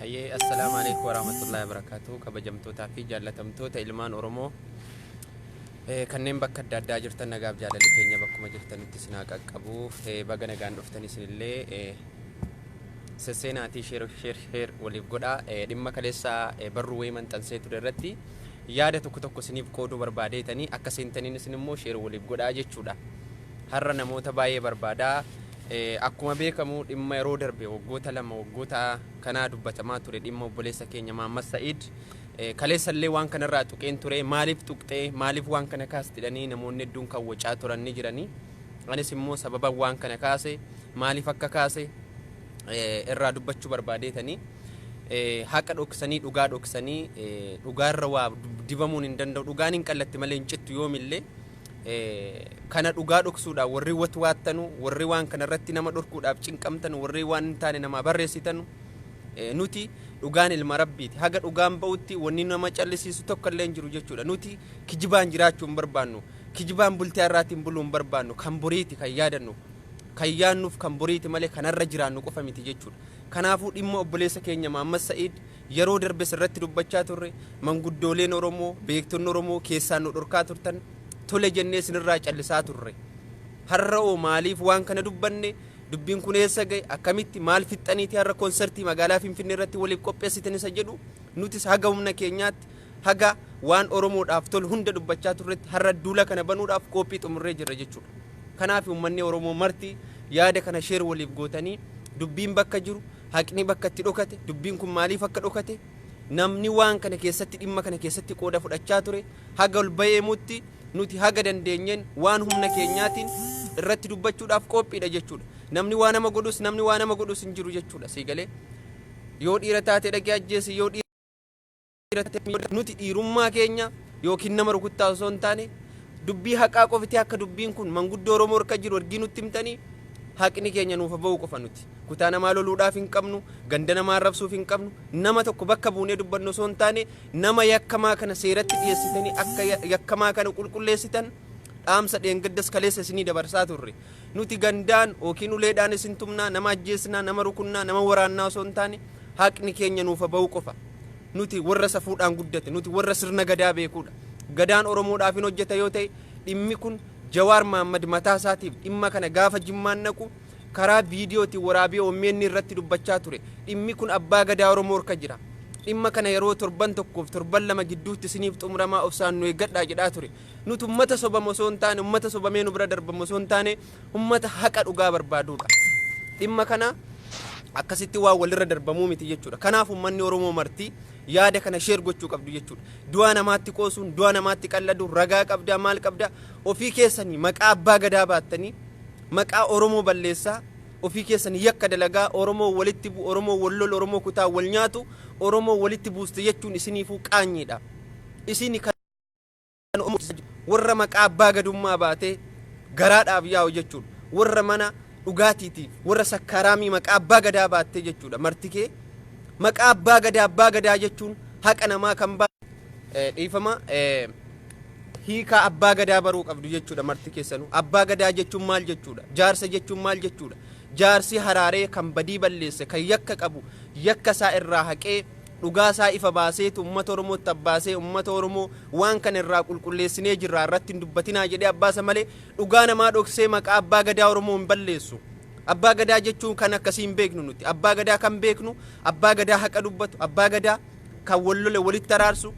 Hayyee assalaamu alaikum warahmatullahi wabarakatuh kabajamtootaa fi jaallatamtoota ilmaan Oromoo eh, kanneen bakka adda addaa jirtan nagaaf jaalalli keenya bakkuma jirtanitti isin haa qaqqabu Eh, baga nagaan dhuftan isinillee eh, sesseenaatii share share share waliif godhaa Eh, dhimma kaleessa eh, barruu wayii maxxansee ture irratti yaada tokko tokko isiniif qooduu barbaadeetanii akka seentaniin isin immoo share waliif godhaa jechuudha har'a namoota baay'ee barbaadaa Eh, akkuma beekamu dhimma yeroo darbe waggoota lama waggoota kanaa dubbatamaa ture dhimma obboleessa keenya Mahammad Sa'iid Eh, kaleessa illee waan kanarraa tuqeen ture maaliif tuqxee maaliif waan kana kaastidhanii namoonni hedduun kan wacaa turan ni jiranii Anis immoo sababan waan kana kaase maaliif akka kaase irraa dubbachuu barbaadeetanii haqa dhoksanii dhugaa dhoksanii dhugaarra waa dibamuun hin danda'u dhugaan hin qallatti malee hin cittu yoomillee kana dhugaa dhoksuudhaan warri watwaattanu warri waan kana irratti nama dhorkuudhaaf cinqamtanu warri waan hin taane namaa barreessitanu nuti dhugaan ilma rabbiiti haga dhugaan ba'utti wanni nama callisiisu tokko illee hin jiru jechuudha nuti kijibaan jiraachuu hin barbaannu Kijibaan bultii har'aati hin buluu hin barbaannu, kan boriiti kan yaadannu, kan yaannuuf kan boriiti malee kan har'a jiraannu qofa miti jechuudha. Kanaafuu dhimma obboleessa keenya Mahammad Sa'iid yeroo darbes irratti dubbachaa turre, manguddooleen Oromoo, beektonni Oromoo keessaan nu dhorkaa turtan, tole jennee isinirraa callisaa turre. Har'awoo maaliif waan kana dubbanne, dubbiin kun eessa ga'e, akkamitti, maal fixxaniiti har'a konsartii magaalaa Finfinneerratti waliif qophessitan isa jedhu nutis haga humna keenyaatti Haga waan Oromoodhaaf tolu hunda dubbachaa turretti har'a duula kana banuudhaaf qoophii xumurree jirra jechuudha. Kanaafi ummanni Oromoo marti yaada kana share waliif gootanii dubbiin bakka jiru, haqni bakka itti dhokate, dubbiin kun maaliif akka dhokate, namni waan kana keessatti dhimma kana keessatti qooda fudhachaa ture haga ol bahee himutti nuti haga dandeenyeen waan humna keenyaatiin irratti dubbachuudhaaf qoophiidha jechuudha. Namni waa nama godhus namni waa nama godhus hin jiru jechuudha. Sii galee yoo dhiira taate dhaqee ajjeesi yoo dhiira nuti dhiirummaa keenya yookiin nama rukuttaa osoo hin taane dubbii haqaa qofti akka dubbiin kun manguddoo Oromoo harka jiru ergii nutti himtanii haqni keenya nuuf ba'uu qofa nuti kutaa namaa loluudhaaf hin qabnu ganda namaa arrabsuuf hin qabnu nama tokko bakka buunee dubbannu osoo hin taane nama yakkamaa kana seeratti dhiyeessitanii akka yakkamaa kana qulqulleessitan dhaamsa dheengaddas kaleessa isinii dabarsaa turre nuti gandaan yookiin uleedhaan isin tumnaa nama ajjeesnaa nama rukunnaa nama waraannaa osoo hin taane haqni keenya nuuf ba'uu qofa. Nuti warra safuudhaan guddate, nuti warra sirna Gadaa beekuudha. Gadaan Oromoodhaaf hin hojjeta yoo ta'e dhimmi kun Jawaar Mahaammad mataa isaatiif dhimma kana gaafa Jimmaan dhaqu karaa viidiyootiin waraabee omn irratti dubbachaa ture. Dhimmi kun Abbaa Gadaa Oromoo harka jira. Dhimma kana yeroo torban tokkoof torban lama gidduutti isiniif xumuramaa obsaan nu eeggadhaa jedhaa ture. Nuti ummata sobamu osoo hin taane, ummata sobamee nu bira darbamu osoo hin taane ummata haqa dhugaa barbaaduudha. Dhimma kana akkasitti waan walirra darbamuu miti jechuudha. Kanaaf ummanni Oromoo marti yaada kana sheer gochuu qabdu jechuudha. Du'a namaatti qoosuun, du'a namaatti qalladuun ragaa qabdaa maal qabdaa ofii keessanii maqaa abbaa gadaa baattanii maqaa Oromoo balleessaa ofii keessanii yakka dalagaa Oromoo walitti bu Oromoo wal lolu Oromoo kutaa wal nyaatu Oromoo walitti buuste jechuun isiniifuu qaanyiidha. Isini kan ummu Sa'd warra maqaa abbaa gadummaa baatee garaadhaaf yaa'u jechuudha. Warra mana dhugaatiiti warra sakkaaraamii maqaa abbaa gadaa baattee jechuudha. Martikee maqaa abbaa gadaa abbaa gadaa jechuun haqa namaa kan baa dhiifama hiikaa abbaa gadaa baruu qabdu jechuudha marti keessanuu. Abbaa gadaa jechuun maal jechuudha? Jaarsa jechuun maal jechuudha? Jaarsi haraaree kan badii balleesse kan yakka qabu yakka isaa irraa haqee Dhugaa isaa ifa baaseetu ummata Oromootti abbaasee ummata Oromoo waan kana irraa qulqulleessinee jirraa irratti hin dubbatinaa jedhee abbaasa malee dhugaa namaa dhoksee maqaa Abbaa Gadaa Oromoo hin balleessu. Abbaa Gadaa jechuun kan akkasii hin beeknu nuti. Abbaa Gadaa kan beeknu Abbaa Gadaa haqa dubbatu, Abbaa Gadaa kan wal lole walitti araarsu,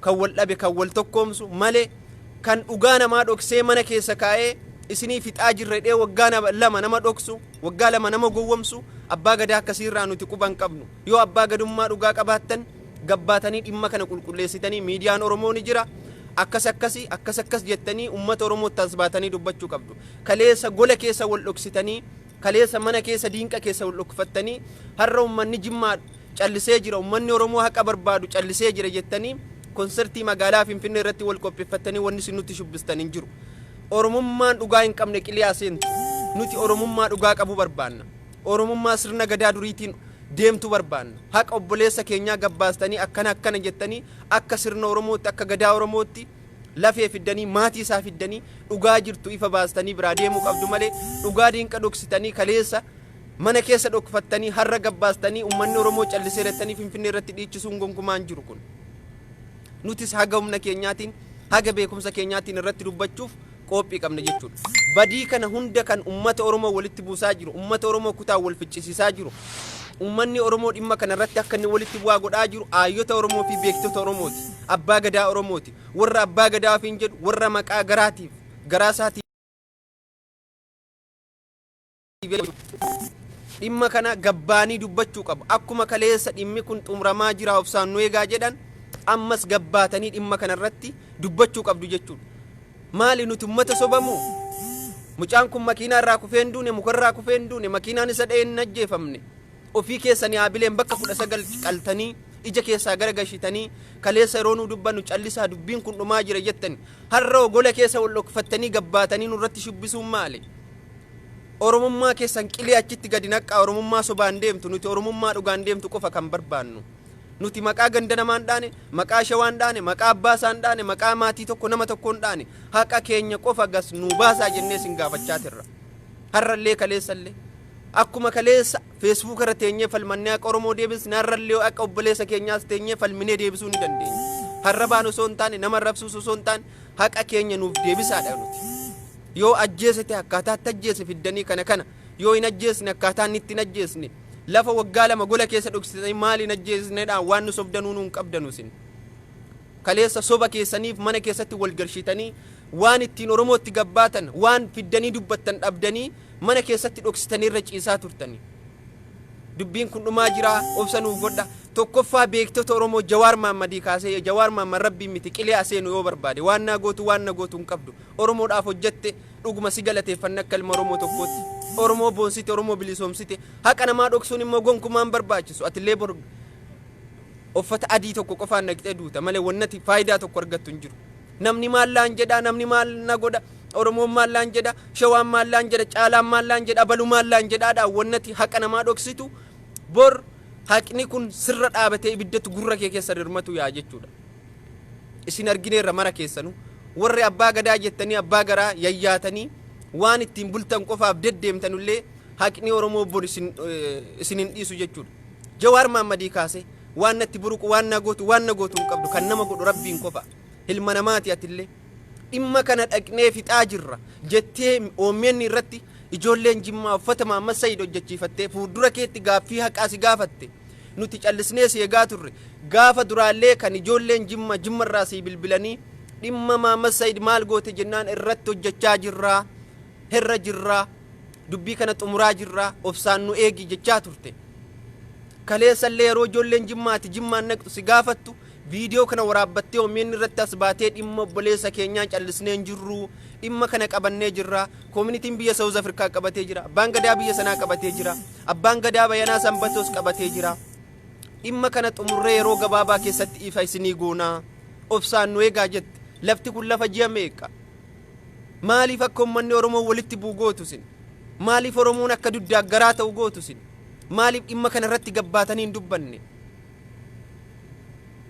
kan wal dhabe kan wal tokkoomsu malee kan dhugaa namaa dhoksee mana keessa kaa'ee isinii fixaa jirra jedhee waggaa lama nama dhoksu, waggaa lama nama gowwomsu Abbaa Gadaa akkasii irraa nuti quba hin qabnu. Yoo abbaa gadummaa dhugaa qabaattan gabbaatanii dhimma kana qulqulleessitanii miidiyaan Oromoo ni jira akkas akkasi akkas akkas jettanii ummata Oromoo tasbaatanii dubbachuu qabdu. Kaleessa gola keessa wal dhoksitanii kaleessa mana keessa diinqa keessa wal dhokfattanii har'a ummanni Jimmaa callisee jira ummanni Oromoo haqa barbaadu callisee jira jettanii konsertii magaalaa Finfinnee irratti wal qopheeffattanii wanni isin nutti shubbistan hin jiru. Oromummaan dhugaa hin qabne qilii haa seentu. Nuti Oromummaa dhugaa qabu barbaanna. Oromummaa sirna Gadaa duriitiin deemtu barbaanna. Haqa obboleessa keenyaa gad baastanii akkana akkana jettanii akka sirna Oromootti, akka Gadaa Oromootti lafee fiddanii, maatii isaa fiddanii dhugaa jirtu ifa baastanii biraa deemuu qabdu malee dhugaa diinqa dhoksitanii kaleessa mana keessa dhokfattanii har'a gad baastanii ummanni Oromoo calliseera jettanii Finfinnee irratti dhiichisuun gonkumaa hin jiru kun. Nutis haga humna keenyaatiin, haga beekumsa keenyaatiin irratti dubbachuuf qoophii qabna jechuudha. Badii kana hunda kan ummata Oromoo walitti buusaa jiru, ummata Oromoo kutaan wal ficcisiisaa jiru, ummanni Oromoo dhimma kana irratti akka inni walitti bu'aa godhaa jiru aayyota Oromoo fi beektota Oromooti. Abbaa gadaa Oromooti. Warra abbaa gadaa ofiin jedhu warra maqaa garaatiif garaa isaatiin dhimma kana gabbaanii dubbachuu qabu akkuma kaleessa dhimmi kun xumuramaa jira obsaan nu eegaa jedhan ammas gabbaatanii dhimma kana irratti dubbachuu qabdu jechuudha maali nuti ummata sobamu mucaan kun makiinaa irraa kufee hin duune muka irraa kufee hin duune makiinaan isa dha'ee hin ajjeefamne ofii keessanii haabileen bakka kudha sagal qaltanii ija keessaa gara gashitanii kaleessa yeroo nu dubbannu callisaa dubbiin kun dhumaa jira jettani har'a ogola keessa wal dhokfattanii gabbaatanii nurratti shubbisuun maali Oromummaa keessan qilee achitti gadi naqqaa Oromummaa sobaan deemtu nuti Oromummaa dhugaan deemtu qofa kan barbaannu. Nuti maqaa ganda namaa hin dhaane, maqaa shawaa hin dhaane, maqaa abbaa isaa hin dhaane, maqaa maatii tokko nama tokkoo hin dhaane. Haqa keenya qofa gas nuu baasaa jennee isin gaafachaa tirra. Har'allee kaleessallee. Akkuma kaleessa feesbuuka irra teenyee falmannee haqa Oromoo deebisne har'allee haqa obboleessa keenyaas teenyee falminee deebisuu ni dandeenya. Harrabaan osoo hin taane nama arrabsuus osoo hin taane haqa keenya nuuf deebisaadha nuti. Yoo ajjeese ta'e akkaataa itti ajjeese fiddanii kana kana yoo hin ajjeesne akkaataa inni itti hin ajjeesne lafa waggaa lama gola keessa dhoksitanii maali hin ajjeesnedhaan waan nu sobdanuu nuun qabdanu isin. Kaleessa soba keessaniif mana keessatti wal garshitanii waan ittiin Oromootti gabbaatan waan fiddanii dubbattan dhabdanii mana keessatti dhoksitanii irra ciisaa turtanii. Dubbiin kun dhumaa jira obsa nuuf godha tokkoffaa beektota Oromoo Jawaar Maammadii kaasee Jawaar Maamman rabbiin miti qilee aseenu yoo barbaade waan naa gootu waan na gootu hin qabdu. Oromoodhaaf hojjette, dhuguma si galateeffanna akka ilma Oromoo tokkootti. Oromoo boonsite, Oromoo bilisoomsite. Haqa namaa dhoksuun immoo gonkumaa hin barbaachisu. Atillee bor uffata adii tokko qofaan dhaqxee duuta malee wannati faayidaa tokko argattu hin jiru. Namni maal laan jedha, namni maal na godha, Oromoon maal laan jedha, Shawaan maal laan jedha, Caalaan maal laan jedha, Abalu maal laan jedhaadhaan wannati haqa namaa dhoksitu bor haqni kun sirra dhaabatee ibiddatu gurra kee keessa dirmatu yaa jechuudha. isin argineerra mara keessanu warri abbaa gadaa jettanii abbaa garaa yayyaatanii waan ittiin bultan qofaaf deddeemtanullee haqni oromoo bor isin isin hin dhiisu jechuudha jawaar maammadii kaase waan natti buruqu waan na gootu waan na gootu hin qabdu kan nama godhu rabbiin qofa ilma namaati atillee dhimma kana dhaqnee fixaa jirra jettee oommeenni irratti ijoolleen jimmaa uffata maammas sayid hojjechiifattee fuuldura keetti gaaffii haqaa si gaafatte Nuti callisnee si egaa turre. Gaafa duraallee kan ijoolleen Jimma Jimmarraa sii bilbilanii dhimma Mahammad Sayid maal goote jennaan irratti hojjechaa jirra, herra jirra, dubbii kana xumuraa jirra, obsaan nu eegi jechaa turte. Kaleessallee yeroo ijoolleen Jimmaa ati Jimmaan naqxu si gaafattu Viidiyoo kana waraabbattee omn irratti as baatee dhimma obboleessa keenyaa callisnee hin jirru. Dhimma kana qabannee jirra. Koominitiin biyya Sawuz Afrikaa qabatee jira. Abbaan gadaa biyya sanaa qabatee jira. Abbaan gadaa Bayanaa Sanbatoos qabatee jira. Dhimma kana xumurree yeroo gabaabaa keessatti ifa isinii goonaa. Obsaan nu eegaa jette. Lafti kun lafa ji'a meeqa? Maaliif akka uummanni Oromoo walitti bu'u gootu isin? Maaliif Oromoon akka duddaaggaraa ta'u gootu isin? Maaliif dhimma kana irratti gabbaatanii hin dubbanne?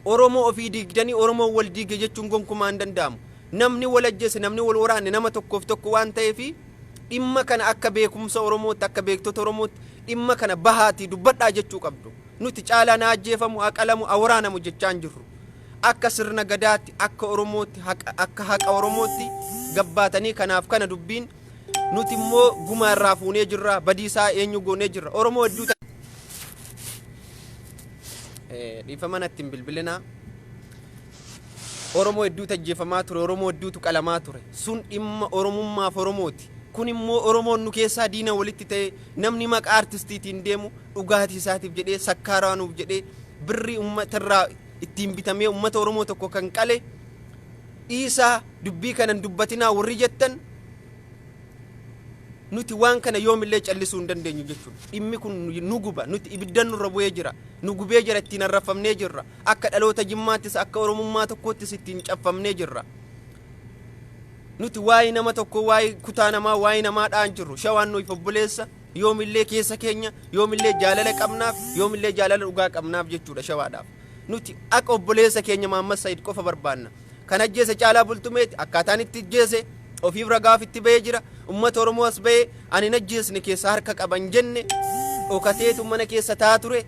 Oromoo ofii diigdanii Oromoon wal diige jechuun gonkumaa hin danda'amu. Namni wal ajjeese, namni wal waraane nama tokkoof tokko waan ta'eefi dhimma kana akka beekumsa Oromootti, akka beektota Oromootti dhimma kana bahaatii dubbadhaa jechuu qabdu. Nuti caalaan haa ajjeefamu, haa qalamu, haa waraanamu jechaa hin jirru. Akka sirna gadaatti, akka Oromootti, haqa- akka haqa Oromootti gabbaatanii kanaaf kana dubbiin nuti immoo gumaa irraa fuunee jirra, badiisaa eenyu goonee jirra. Oromoo hedduu dhiifama natti hin bilbilinaa. Oromoo hedduutu ajjeefamaa ture, Oromoo hedduutu qalamaa ture. Sun dhimma Oromummaaf Oromooti. Kun immoo Oromoon nu keessaa diina walitti ta'ee namni maqaa artistiitiin deemu dhugaatii isaatiif jedhee sakkaaraanuuf jedhee birrii uummata irraa ittiin bitamee uummata Oromoo tokko kan qale dhiisaa dubbii kanan dubbatinaa warri jettan Nuti waan kana yoomillee callisuu hin dandeenyu jechuudha. Dhimmi kun nu guba, nuti ibiddan nurra bu'ee jira, nu gubee jira, ittiin arrabfamnee jirra. Akka dhaloota Jimmaattis, akka Oromummaa tokkoottis ittiin caffamnee jirra. Nuti waa'ee nama tokkoo, waa'ee kutaa namaa, waa'ee namaa dha'aa hin jirru. Shawaan nuuf obboleessa, yoomillee keessa keenya, yoomillee jaalala qabnaaf, yoomillee jaalala dhugaa qabnaaf jechuudha shawaadhaaf. Nuti akka obboleessa keenya Mahammad Said qofa barbaanna. Kan ajjeese Caalaa Bultumeeti. Akkaataan itti ajjeese ofiif ragaaf itti bahee jira. Ummata Oromoo as bahee ani hin ajjeesne keessa harka qaba hin jenne dhokateetu mana keessa taa ture.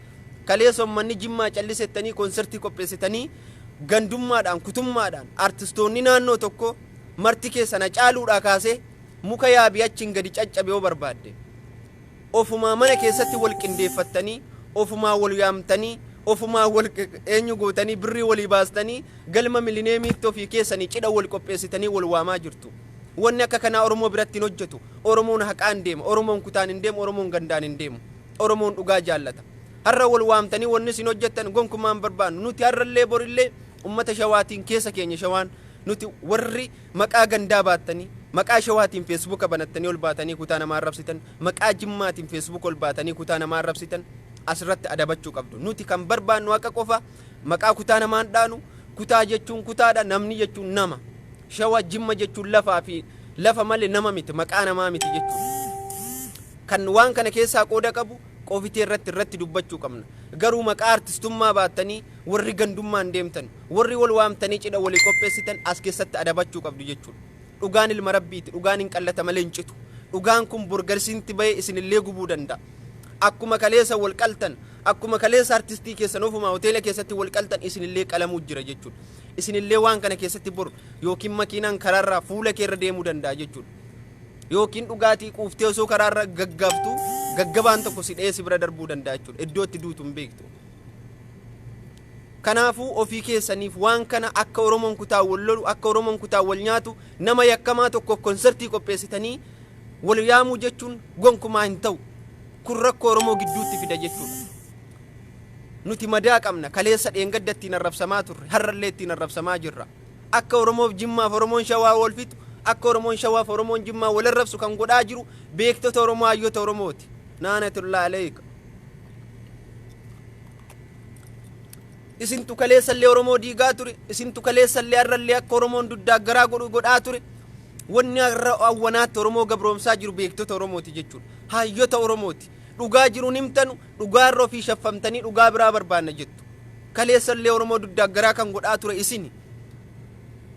Kaleessa ummanni Jimmaa callisettanii konsertii qopheessitanii gandummaadhaan kutummaadhaan artistoonni naannoo tokko marti keessan Hacaaluudhaa kaasee muka yaabii achiin gadi caccabe yoo barbaadde. ofumaa mana keessatti wal qindeeffattanii, ofumaa wal yaamtanii, ofumaa wal eenyu gootanii birrii walii baastanii galma milineemiitti ofii keessanii cidha wal qopheessitanii wal waamaa jirtu. Wanni akka kanaa Oromoo biratti hin hojjetu. Oromoon haqaan deema. Oromoon kutaan hin deemu. Oromoon gandaan hin deemu. Oromoon dhugaa jaallata. Har'a wal waamtanii wanni isin hojjettan gonkumaa hin barbaannu. Nuti har'allee borillee ummata shawaatiin keessa keenya shawaan nuti warri Maqaa gandaa baattanii, maqaa Shawaatiin feesbuuka banattanii ol baatanii kutaa namaa arrabsitan, maqaa Jimmaatiin feesbuuka ol baatanii kutaa namaa arrabsitan asirratti adabachuu qabdu. Nuti kan barbaannu haqa qofa, maqaa kutaa namaa hin dhaanu, kutaa jechuun kutaadha, namni jechuun nama. Shawa, Jimma jechuun lafaa fi lafa malee nama miti, maqaa namaa miti jechuudha. Kan waan kana keessaa qooda qabu qofitee irratti irratti dubbachuu qabna. Garuu maqaa artistummaa baattanii warri gandummaan deemtan Worri wol waamtanii cidha wolii qopheessitan as keessatti adabachuu qabdu jechuudha. Dhugaan ilma Rabbiiti, dhugaan hin qallata malee hin citu. Dhugaan kun bor garsiintti bahee isinillee gubuu danda'a. Akkuma kaleessa wol qaltan, akkuma kaleessa artistii keessan ofumaa hoteela keessatti wol qaltan isinillee qalamuu jira jechuudha. Isinillee waan kana keessatti bor yookiin makiinaan karaarraa fuula keerra deemuu danda'a jechuudha. Yookiin dhugaatii quuftee osoo karaarra gaggaabtuu gaggabaan tokko si dha'ee si bira darbuu danda'a jechuudha. Iddoo itti duutu hin beektu. Kanaafuu ofii keessaniif waan kana akka Oromoon kutaan wal lolu, akka Oromoon kutaan wal nyaatu, nama yakkamaa tokkoof konsartii qopheessitanii wal yaamuu jechuun gonkumaa hin ta'u. Kun rakkoo Oromoo gidduutti fida jechuudha. Nuti madaa qabna. Kaleessa dheengadda ittiin arrabsamaa turre. Har'allee ittiin arrabsamaa jirra. Akka Oromoof Jimmaaf Oromoon Shawaa wal fixu, akka Oromoon Shawaaf Oromoon Jimmaa wal arrabsu kan godhaa jiru beektota Oromoo, hayyoota Oromooti. Naanatullaa aleeyka. isintu kaleessallee Oromoo diigaa ture isintu kaleessallee har'allee akka Oromoon duddaa garaa godhu godhaa ture wanni har'a awwanaatti Oromoo gabroomsaa jiru beektota Oromooti jechuudha haayyota Oromooti dhugaa jiruun himtanu dhugaa irra ofii shaffamtanii dhugaa biraa barbaanna jettu kaleessallee Oromoo duddaa garaa kan godhaa ture isini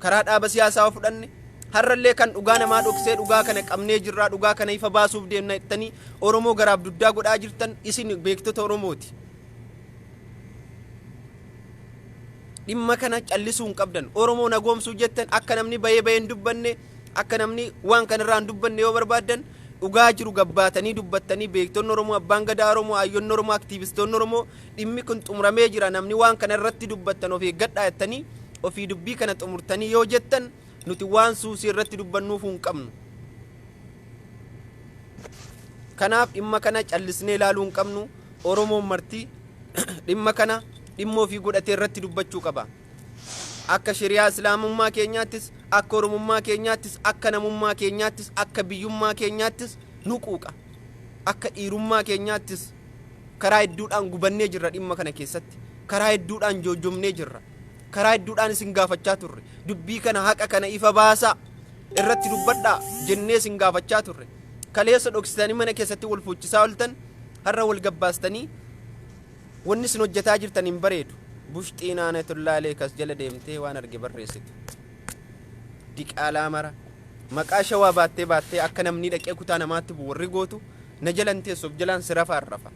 karaa dhaaba siyaasaa yoo fudhanne har'allee kan dhugaa namaa dhoksee dhugaa kana qabnee jirraa dhugaa kana ifa baasuuf deemna jettanii Oromoo garaaf dugdaa godhaa jirtan isin beektota Oromooti. Dhimma kana callisuu hin qabdan. Oromoo nagoomsuu jettan akka namni bayee bayee hin dubbanne akka namni waan kanarraa hin dubbanne yoo barbaaddan dhugaa jiru gabbaatanii dubbattanii beektonni Oromoo abbaan gadaa Oromoo ayyonni Oromoo aktiivistoonni Oromoo Dhimmi kun xumuramee jira namni waan kana irratti dubbattan of eeggadhaa jettanii ofii dubbii kana xumurtanii yoo jettan nuti waan suusii irratti dubbannuuf hin qabnu. Kanaaf dhimma kana callisnee ilaaluu hin qabnu Oromoon marti dhimma kana dhimma ofii godhatee irratti dubbachuu qaba. Akka shari'aa islaamummaa keenyaattis akka oromummaa keenyaattis akka namummaa keenyaattis akka biyyummaa keenyaattis nu quuqa. Akka dhiirummaa keenyaattis Karaa hedduudhaan gubannee jirra dhimma kana keessatti. Karaa hedduudhaan joojjomnee jirra. Karaa hedduudhaan isin gaafachaa turre. Dubbii kana haqa kana ifa baasaa. Irratti dubbadhaa jennee isin gaafachaa turre. Kaleessa dhoksitanii mana keessatti wal fuuchisaa oltan har'a wal gabbaastanii wanni isin hojjetaa jirtan hin bareedu. Bushxii naanatullaa leekas jala deemtee waan arge barreessitu. Diqaalaa mara. Maqaa shawaa baattee baattee akka namni dhaqee kutaa namaatti bu'u warri gootu Na jala hin teessu of jalaan si rafa arrafa.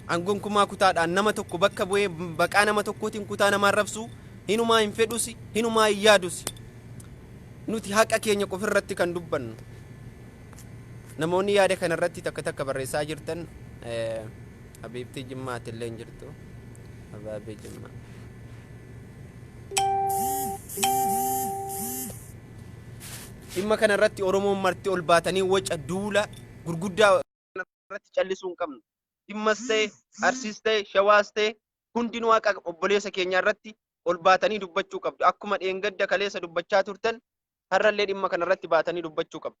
An gonkumaa kutaadhaan nama tokko bakka bu'ee baqaa nama tokkootiin kutaa namaa arrabsuu hinumaa hin fedhusi hinumaa hin yaadusi. Nuti haqa keenya qofa irratti kan dubbannu. Namoonni yaada kana irratti takka takka barreessaa jirtan eh, Habiibtii Jimmaa ati illee hin jirtu. Abaabee Jimmaa. Dhimma kana irratti Oromoon marti ol baatanii waca, duula, gurguddaa kana irratti callisuu hin qabnu. Jimmas ta'e, Arsiis ta'e, Shawaas ta'e hundinuu haqa obboleessa keenyaa irratti ol baatanii dubbachuu qabdu. Akkuma dheengadda, kaleessa dubbachaa turtan har'a illee dhimma kana irratti baatanii dubbachuu qabdu.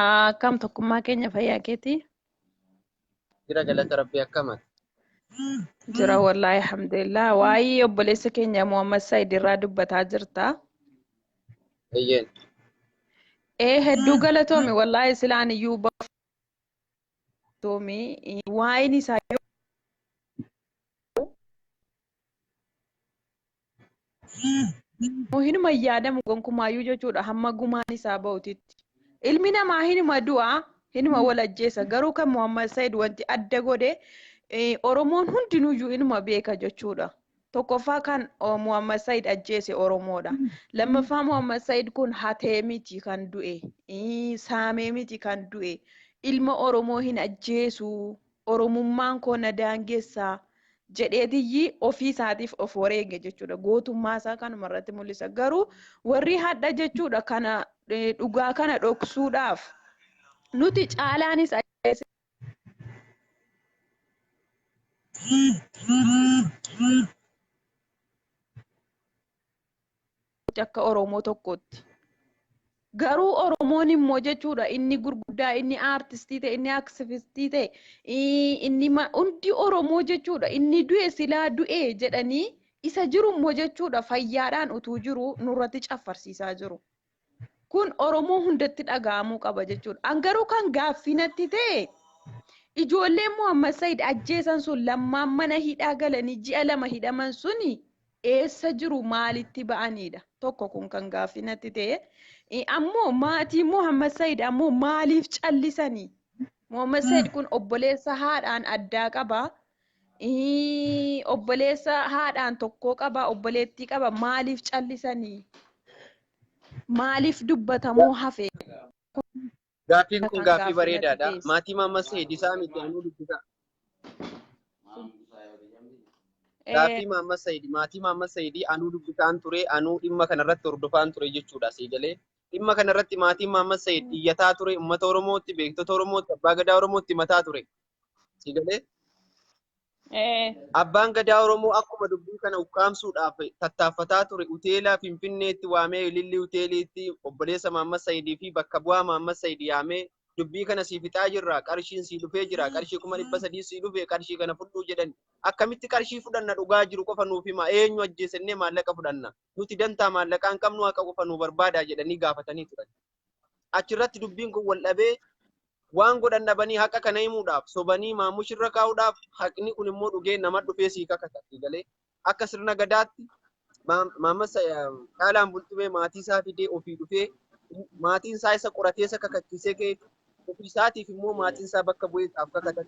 Akkam tokkummaa keenya fayyaa keetii? Jira galata rabbii akkamati. Jira wallaahi alhamdulillah. Waa'ee obboleessa keenya Muhammad Said irraa dubbataa jirta. Eeyyeen. Ee hedduu galatoomi wallaahi silaan iyyuu baatoomi waa'een isaa yoo Immoo hinuma hin yaadamu gonkumaayyuu jechuudha hamma gumaan isaa ba'utitti. Ilmi namaa hinuma du'a, hinuma wal ajjeesa. Garuu kan Muhammad Said wanti adda godhe eh, Oromoon hundinuyyuu inuma beeka jechuudha. Tokkoffaa kan oh, Muhammad Said ajjeese Oromoodha. Lammaffaa Muhammad Said kun hatee miti kan du'e, ii, saamee miti kan du'e. Ilma Oromoo hin ajjeesu Oromummaan koo na daangessa jedheetiyyi ofii isaatiif of wareege jechuudha. Gootummaa isaa kanuma irratti mul'isa. Garuu warri hadha jechuudha kana eh, dhugaa kana dhoksuudhaaf nuti caalaanis ajjeesee akka Oromoo tokkootti. Garuu Oromoon immoo jechuudha inni gurguddaa inni aartistii ta'e inni aksifistii ta'e inni hundi Oromoo jechuudha inni du'e silaa du'e jedhanii isa jiru immoo jechuudha fayyaadhaan utuu jiru nurratti caffarsiisaa jiru. Kun Oromoo hundatti dhaga'amuu qaba jechuudha. An garuu kan gaaffii natti ta'e ijoolleen Muhammad Said ajjeesan sun lammaan mana hidhaa galanii ji'a lama hidhaman suni eessa jiru maalitti ba'aniidha? Tokko kun kan gaaffii natti ta'e. Ammoo maatiin Muhammad Said ammoo maaliif callisanii? Muhammad Said kun obboleessa haadhaan addaa qaba. Ii, obboleessa haadhaan tokkoo qaba obboleettii qaba maaliif callisanii maaliif dubbatamuu hafe Gaaffiin kun kan gaaffii gaaffii natti bareedaadha. teesse. Maatii Maammas Sayidisaa miti anuu dubbisaa. Eh, Gaaffii Maammas Sayidi maatii Maammas Sayidii anuu dubbisaan ture anuu dhimma kanarratti hordofaan ture jechuudha sii galee. Dhimma kanarratti maatiin Maammas Sayid iyyataa ture uummata Oromootti beektota Oromootti abbaa gadaa Oromootti mataa ture. Si galee? Ee. Abbaan Gadaa Oromoo akkuma dubbii kana ukkaamsuudhaaf tattaaffataa ture hoteela Finfinneetti waamee Ilillii hoteeliitti obboleessa Maammas Sayidii fi bakka bu'aa Maammas Sayid yaamee dubbii kana sii fixaa jirra qarshiin sii dhufee jira qarshii kuma dhibba sadii sii dhufe qarshii kana fudhuu jedhan akkamitti qarshii fudhanna dhugaa jiru qofa nuuf hima eenyu ajjeesennee maallaqa fudhanna nuti dantaa maallaqaan qabnu haqa qofa nu barbaadaa jedhanii gaafatanii turan. achirratti dubbiin kun wal dhabee waan godhan dhabanii haqa kana himuudhaaf sobanii maamush irra kaa'uudhaaf haqni kun immoo dhugee nama dhufee sii kakata galee akka sirna gadaatti maammasa dhaalaan bultumee maatii isaa fidee ofii dhufee maatiin isaa isa qoratee isa kakachiisee kee ofii isaatiif immoo maatiin isaa bakka bu'ee isaaf kakatan.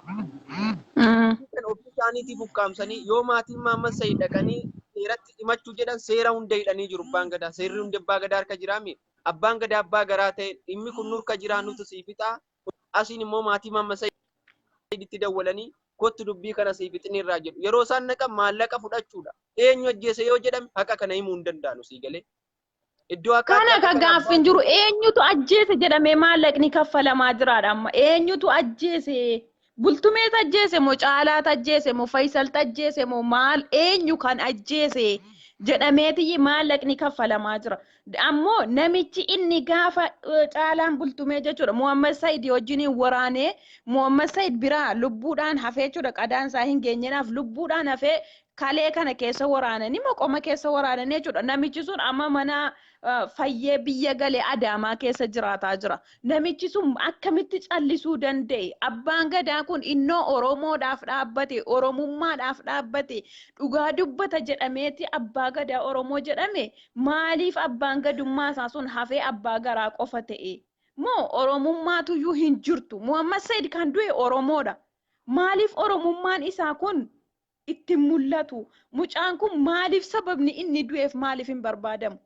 Mm. Kan ofii isaaniitiif ukkaamsanii yoo maatiin Mahammad Said dhaqanii seeratti himachuu jedhan seera hunda hidhanii jiru abbaan gadaa. Seerri hundi abbaa gadaa harka jiraami. Abbaan gadaa abbaa garaa ta'e dhimmi kun nurka jiraa nutu sii fixaa. Asiin immoo maatii Mahammad Said itti dawwalanii kottu dubbii kana sii fixni irraa jedhu. Yeroo isaan naqan maallaqa fudhachuudha. Eenyu ajjeese yoo jedhame haqa kana himuu hin danda'anu sii galee. Iddoo akka Kana akka gaaffi hin jiru eenyutu ajjeese jedhamee maallaqni kaffalamaa jiraadha amma eenyutu ajjeese bultumeet ajjeese moo caalaat ajjeese moo fayisalta ajjeese moo maal eenyu kan ajjeese jedhameetiyyi maallaqni kaffalamaa jira ammoo namichi inni gaafa eh, caalaan bultumee jechuudha Muhammad Said wajjin waraanee Muhammad Said biraa lubbuudhaan hafee jechuudha qadaan isaa hin geenyeedhaaf lubbuudhaan hafee Kalee kana keessa waraananii moqoma keessa waraananii jechuudha. Namichi sun amma mana fayyee biyya galee Adaamaa keessa jiraataa jira. Namichi sun akkamitti callisuu danda'e? Abbaan gadaa kun innoo Oromoodhaaf dhaabbate, Oromummaadhaaf dhaabbate, dhugaa dubbata jedhameeti abbaa gadaa Oromoo jedhame. Maaliif abbaan gadummaa isaa sun hafee abbaa garaa qofa ta'e? Moo Oromummaatuyyuu hin jirtu? Muhammad Said kan du'e Oromoodha. Maaliif Oromummaan isaa kun itti hin mul'atu. Mucaan kun maaliif sababni inni du'eef maaliif hin barbaadamu?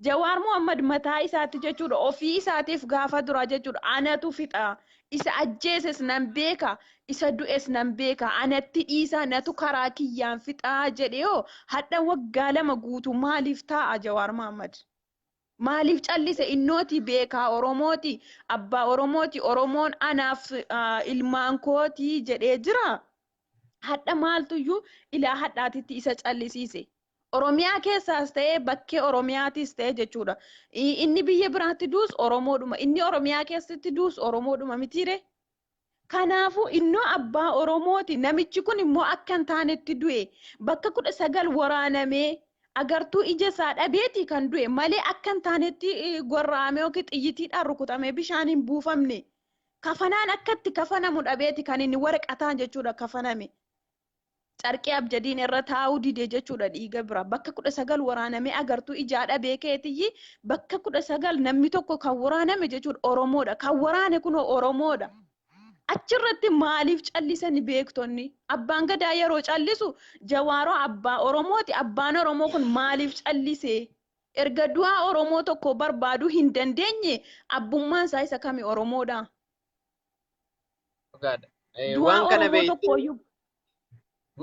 Jawaar Mohammad mataa isaatti jechuudha ofii isaatiif gaafa duraa jechuudha anatu fixa, isa ajjeeses nan beeka, isa du'es nan beeka, anatti dhiisaa natu karaa kiyyaan fixaa jedhee hoo hadha waggaa lama guutuu maaliif taa'a Jawaar Mohammad? Maaliif callise innooti beekaa oromooti abbaa oromooti oromoon anaaf ilmaan kooti jedhee jira hadha maaltuyyu ilaa hadhaatitti isa callisiise oromiyaa keessaas ta'ee bakkee oromiyaatiis ta'ee jechuudha inni biyya biraatti duus oromoodhuma inni oromiyaa keessatti duus oromoodhuma mitiire Kanaafuu innoo abbaa Oromooti namichi kun immoo akka hin taanetti du'e. Bakka 19 waraanamee agartuu ija isaa dhabeeti kan du'e malee akka hin taanetti gorra'amee yookiin xiyyitiidhaan rukutamee bishaan hin buufamne. Kafanaan akka itti kafanamu dhabeeti kan inni waraqataan jechuudha kafaname. Carqii abjadiin irra taa'uu dide jechuudha dhiiga bira. Bakka kudha sagal waraanamee agartuu ijaa dhabee keetiyyi bakka kudha sagal namni tokko kan waraaname jechuudha Oromoodha. Kan waraane kunoo Oromoodha. Achirratti maaliif callisani beektonni? Abbaan gadaa yeroo callisu jawaaroo abbaa Oromooti abbaan Oromoo kun maaliif callise? Erga du'aa Oromoo tokko barbaaduu hin dandeenye abbummaan isaa isa kami Oromoodha? Dhugaadha. Eh, Du'aa Waan kana Oromoo beekte tokkooyyuu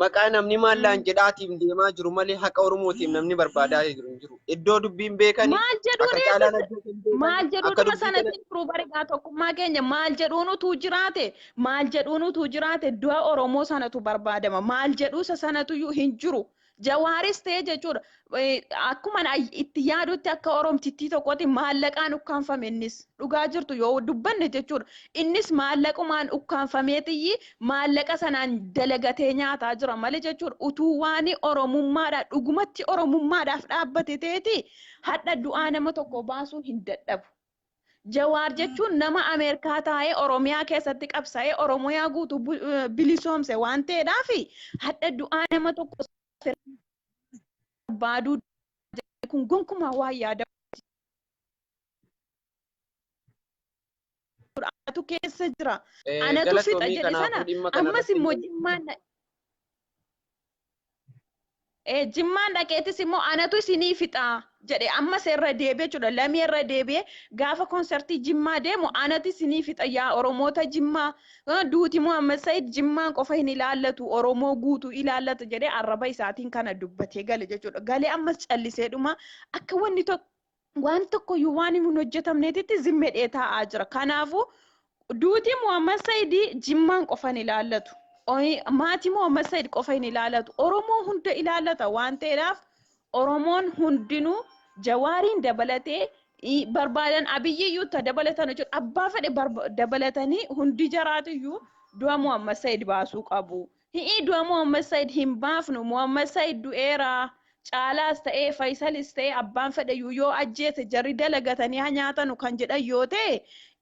maqaa namni maallaan Mm. jedhaatiin deemaa jiru malee haqa Oromootiin namni barbaadaa jiru hin jiru. Iddoo dubbiin beekani maal akka jedhuunis caalaan ajjeesan beekani maal akka jedhuutuma dubbii kana sanatiin turuu barigaa tokkummaa keenya maal jedhuun utuu jiraate maal jedhuun utuu jiraate du'a Oromoo sanatu barbaadama maal jedhuusa sanatuyyuu hin jiru Jawaaris ta'ee jechuudha. Akkuma itti yaadutti akka Oromtittii tokkotti maallaqaan ukkaanfame innis dhugaa jirtu yoo dubbanne jechuudha. Innis maallaqumaan ukkaanfamee xiyyi maallaqa sanaan dalagatee nyaataa jira malee jechuudha. Utuu waan Oromummaadha dhugumatti Oromummaadhaaf dhaabbate ta'eeti hadha du'aa nama tokko baasuu hin dadhabu. Jawaar jechuun nama Ameerikaa taa'ee Oromiyaa keessatti qabsa'ee Oromiyaa guutuu bu- eh, bilisoomse waan ta'eedhaaf hadha du'aa nama tokko barbaaduu jedhee kun gonkumaa waan yaada tu keessa jira. Eh, Anatu fixa Galatoomii jedhe sana kanaafuu dhimma kana ammas irratti immoo jimmaan Jimmaan dhaqeetis immoo anatu isinii fixaa jedhe ammas irra deebi'e jechuudha. Lamii irra deebi'e gaafa konsertii Jimmaa deemu anatu isinii fixa yaa Oromoota Jimmaa duuti Muhammad Said Jimmaan qofa hin ilaallatu Oromoo guutuu ilaallata jedhee arraba isaatiin kana dubbatee gale jechuudha. Galee ammas callisee dhuma akka wanni tokko waan tokkoyyuu waan hin hojjetamneetitti zimmedhee taa'aa jira. Kanaafuu duuti Muhammad Saidii Jimmaan qofa hin ilaallatu. Maatii Muhammad Said qofa hin ilaallatu. Oromoo hunda ilaallata waan ta'eedhaaf Oromoon hundinuu Jawaariin dabalatee barbaadan abiyyiyyuu ta dabalatan jechuudha. Abbaa fedhe dabalatanii hundi jaraatiyyuu du'a Muhammad Said baasuu qabu. Hi'ii du'a Muhammad Said hin baafnu. Muhammad Said du'eera. Caalaas ta'ee Fayisalis ta'ee abbaan fedheyyuu yoo ajjeese jarri dalagatanii haa nyaatanu kan jedhan yoo ta'e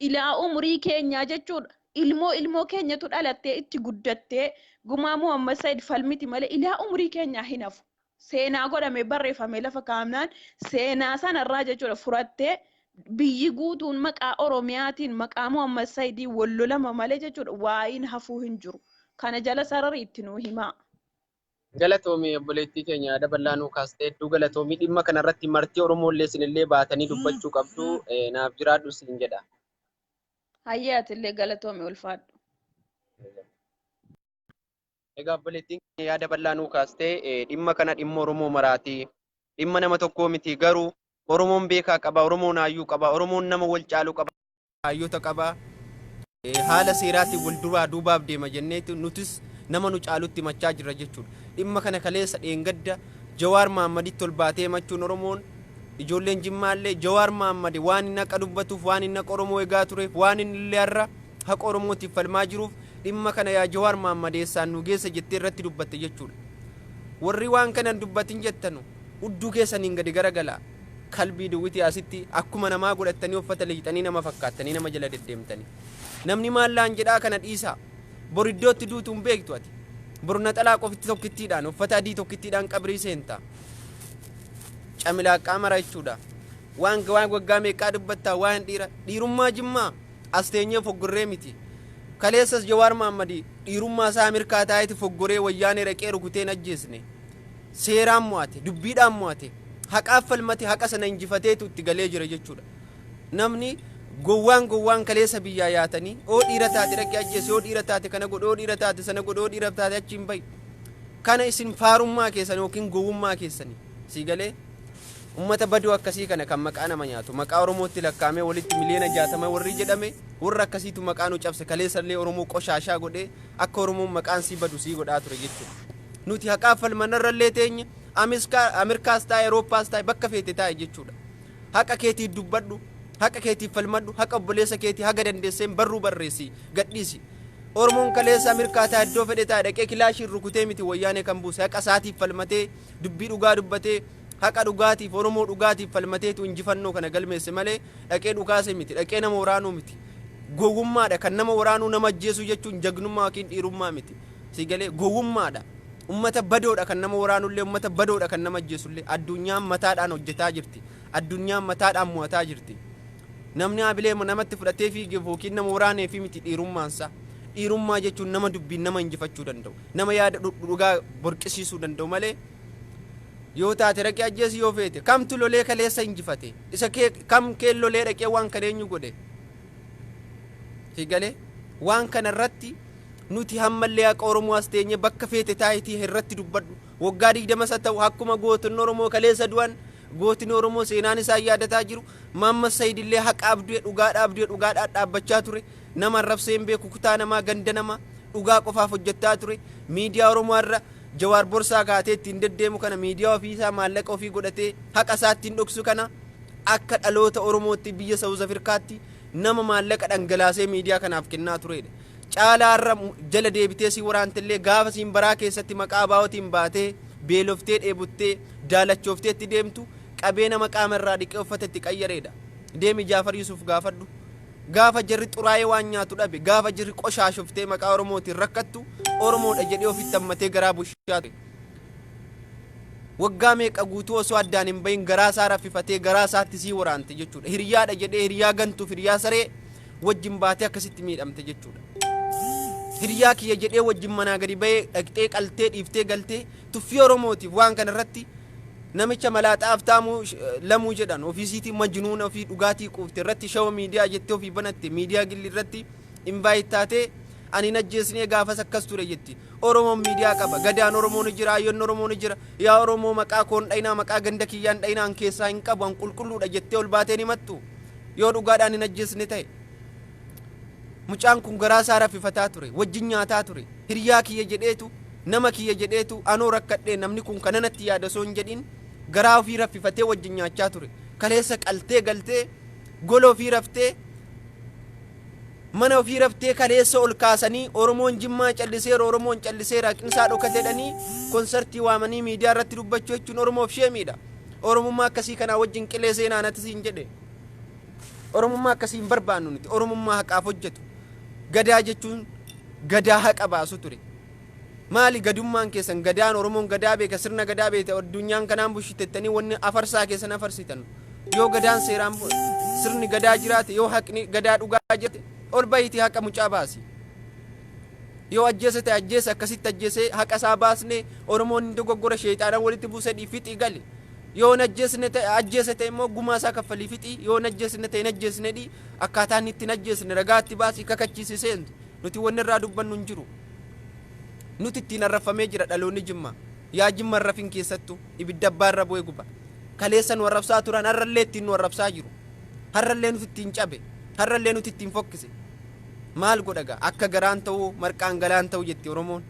ilaa umurii keenyaa jechuudha. Ilmoo ilmoo keenyatu dhalattee itti guddattee gumaa Muhammad Said falmiti malee ilaa umurii keenyaa hin hafu. seenaa godhamee barreeffamee lafa kaa'amnaan seenaa sana irraa jechuudha furattee biyyi guutuun maqaa Oromiyaatiin maqaa Muhammad Sayidiin wal lolama malee jechuudha waa'iin hafuu hin jiru. Kana jala sarari itti nuu himaa. Galatoomi obboleettii keenya yaada bal'aa nuu kaaste hedduu galatoomi dhimma kanarratti martii Oromoo illee isinillee baatanii dubbachuu qabdu eh, naaf jiraadhu siin jedha. Hayyee atillee galatoomi ulfaadhu. Egaa obboleettiin keenya yaada bal'aa nuu kaastee eh, dhimma kana dhimma Oromoo maraati. Dhimma nama tokkoo miti garuu Oromoon beekaa qaba, Oromoon hayyuu qaba, Oromoon nama wal caalu qaba, hayyoota qaba. Eh, Haala seeraatiin wal duraa duubaaf deema jenneetu nutis nama nu caalutti himachaa jirra jechuudha. Dhimma kana kaleessa dheengadda Jawaar Mahaammaditti ol baatee himachuun Oromoon ijoolleen Jimmaallee Jawaar Mahaammad waan inni haqa dubbatuuf waan inni haqa Oromoo egaa tureef waan inni illee har'a haqa Oromootiif falmaa jiruuf Dhimma kana yaa Jawaar Mahammad eessaan nu geessa jettee irratti dubbatte jechuudha. Warri waan kana hin dubbatin jettanu hudduu keessaniin gadi garagalaa. Kalbii duwwitii asitti akkuma namaa godhattanii uffata liixxanii nama fakkaattanii nama jala deddeemtanii. Namni maal naan jedhaa kana dhiisaa. Bor iddoo itti duutu hin beektu ati. Bor naxalaa qofitti tokkittiidhaan uffata adii tokkittiidhaan qabrii seenta. Camilaaqqaa mara jechuudha. Waan waan waggaa meeqaa dubbattaa waa'een dhiira dhiirummaa jimmaa. As teenyee foggorree miti. Kaleessas Jawaar Mahaammad dhiirummaa isaa Ameerikaa taa'eeti foggoree wayyaanee dhaqee rukutee hin ajjeesne. Seeraan mo'ate, dubbiidhaan mo'ate, haqaaf falmate haqa sana injifateetu itti galee jira jechuudha. Namni gowwaan gowwaan kaleessa biyyaa yaatanii oo dhiira taate dhaqee ajjeese, oo dhiira taate kana godhe, oo dhiira taate sana godhe, oo dhiira taate achi hin bahi. Kana isin faarummaa keessan yookiin gowwummaa keessani. Sii galee? Ummata badoo akkasii kana kan maqaa nama nyaatu, maqaa Oromootti lakkaa'amee walitti miliyoona 60 warri jedhame, warra akkasiitu maqaa nu cabse, kaleessa illee Oromoo qoshaashaa godhee akka Oromoon maqaan isii badu isii godhaa ture jechuudha. Nuti haqaaf falma narra illee teenye, Amiskaa, Amirkaas taa'i, Erooppaas taa'i, bakka feete taa'i jechuudha. Haqa keetiif dubbadhu, haqa keetiif falmadhu, haqa obboleessa keetii haga dandeesseen barruu barreessi, gadhiisi. Oromoon kaleessa Amirkaa taa'a, iddoo fedhe taa'a dhaqee kilaashiin rukutee miti Wayyaanee kan buuse, haqa isaatiif falmatee, Dubbii dhugaa dubbatee, haqa dhugaatiif, Oromoo dhugaatiif falmateetu injifannoo kana galmeesse malee dhaqee dhukaase miti, dhaqee nama waraanuu miti. Gowwummaadha. Kan nama waraanuu, nama ajjeesuu jechuun jagnummaa yookiin dhiirummaa miti. Sii galee? Gowwummaadha. Ummata badoodha kan nama waraanullee, ummata badoodha kan nama ajjeesullee. Addunyaan mataadhaan hojjetaa jirti. Addunyaan mataadhaan mo'ataa jirti. Namni hamilee namatti fudhatee fiigeef ykn nama waraaneefii miti dhiirummaansaa. Dhiirummaa jechuun nama dubbiin nama injifachuu danda'u, nama yaada dhugaa borqisiisuu danda'u malee yoo taate dhaqee ajjeesi yoo feete kamtu lolee kaleessa injifate isa kee kam kee lolee dhaqee waan kan eenyu godhe sigale waan kana irratti nuti hammallee haqa Oromoo as teenye bakka feete taayitii irratti dubbadhu waggaa digdama isa ta'u akkuma gootonni Oromoo kaleessa du'an gootni Oromoo seenaan isaan yaadataa jiru Mahammad Said illee haqa abdue, dhugaadha abdue, dhugaadhaan dhaabbachaa ture. Nama arrabsee hin beeku, kutaa namaa, ganda namaa. Dhugaa qofaaf hojjattaa ture. Miidiyaa Oromoo har'a Jawaar borsaa kaatee ittiin deddeemu kana, miidiyaa ofii isaa maallaqa ofii godhatee haqa isaa ittiin dhoksu kana, akka dhaloota Oromootti biyya South Afirkaatti nama maallaqa dhangalaasee miidiyaa kanaaf kennaa tureedha. Caalaa har'a jala deebitee si waraante illee gaafa siin baraa keessatti maqaa ABOtiin baatee beeloftee dheebottee daalachoofteetti deemtu qabee nama qaama irraa dhiqee uffata itti qayyareedha. Deemi Jaafar Yusuuf gaafadhu. Gaafa jarri xuraa'ee waan nyaatu dhabe, gaafa jirri qoshaashoftee maqaa Oromootiin rakkattu, Oromoodha jedhee ofitti hammatee garaa bushaa ture. Waggaa meeqa guutuu osoo addaan hin bahin garaa isaa raffifatee garaa isaatti sii waraante jechuudha. Hiriyaadha jedhee hiriyaa gantuuf hiriyaa saree wajjin baatee akkasitti miidhamte jechuudha. Hiriyaa kiyya jedhee wajjin manaa gadi bahee dhaqxee qaltee dhiiftee galtee tuffii Oromootiif waan kana irratti Namicha malaaxaa Aftaamuu Lamuu jedhan ofiisiitii majnuuna ofii dhugaatii quufte irratti shawa miidiyaa jettee ofii banatte miidiyaa gilli irratti invite taatee ani hin ajjeesnee gaafas akkas ture jetti. Oromoon miidiyaa qaba. Gadaan Oromoo ni jira, Hayyoonni Oromoo ni jira. Yaa Oromoo maqaa koo hin dhayinaa, maqaa ganda kiyyaa hin dhayinaa, an keessaa hin qabu, an qulqulluudha jettee ol baatee hin himattu? Yoo dhugaadhaan hin ajjeesne ta'e. Mucaan kun garaa isaa raffifataa ture, wajjin nyaataa ture. Hiriyaa kiyya jedheetu, nama kiyya jedheetu anoo rakkadhee namni kun kana natti yaada osoo hin jedhin garaa ofii raffifatee wajjin nyaachaa ture. Kaleessa qaltee galtee gola ofii raftee mana ofii raftee kaleessa ol kaasanii Oromoon Jimmaa calliseera Oromoon calliseera haqnisaa dhokateedhanii konsartii waamanii miidiyaa irratti dubbachuu jechuun Oromoof sheemiidha. Oromummaa akkasii kanaa wajjin qilee seenaa nati siin jedhe. Oromummaa akkasii hin barbaannu nuti. Oromummaa haqaaf hojjetu. Gadaa jechuun Gadaa haqa baasu ture. Maali gadummaan keessan Gadaan Oromoon Gadaa beeka sirna Gadaa beekta addunyaan kanaan bushitettanii wanni afarsaa keessan afarsitan. Yoo Gadaan seeraan bu- sirni Gadaa jiraate yoo haqni Gadaa dhugaa jiraate ol bahiitii haqa mucaa baasi. Yoo ajjeese ta'e ajjeese akkasitti ajjeesee haqa isaa baasne Oromoon hin dogoggora sheexaana walitti buusedhii fixii gali. Yoo hin ajjeesne ta'e, ajjeese ta'e immoo gumaa isaa kaffalii fixi, yoo hin ajjeesne ta'e hin ajjeesne dhi'i, akkaataa inni itti hin ajjeesne ragaa itti baasi, kakachiisi seentu. Nuti wanni irraa dubbannu hin jiru. Nuti ittiin arrabfamee jira dhaloonni Jimmaa. Yaa Jimma hin rafin keessattuu, ibidda abbaa irra bu'e guba. Kaleessa nu arrabsaa turan har'a illee ittiin nu arrabsaa jiru. Har'a illee nuti ittiin cabe, har'a illee nuti ittiin fokkise. Maal godha egaa? Akka garaan ta'uu marqaan galaan ta'u jetti Oromoon.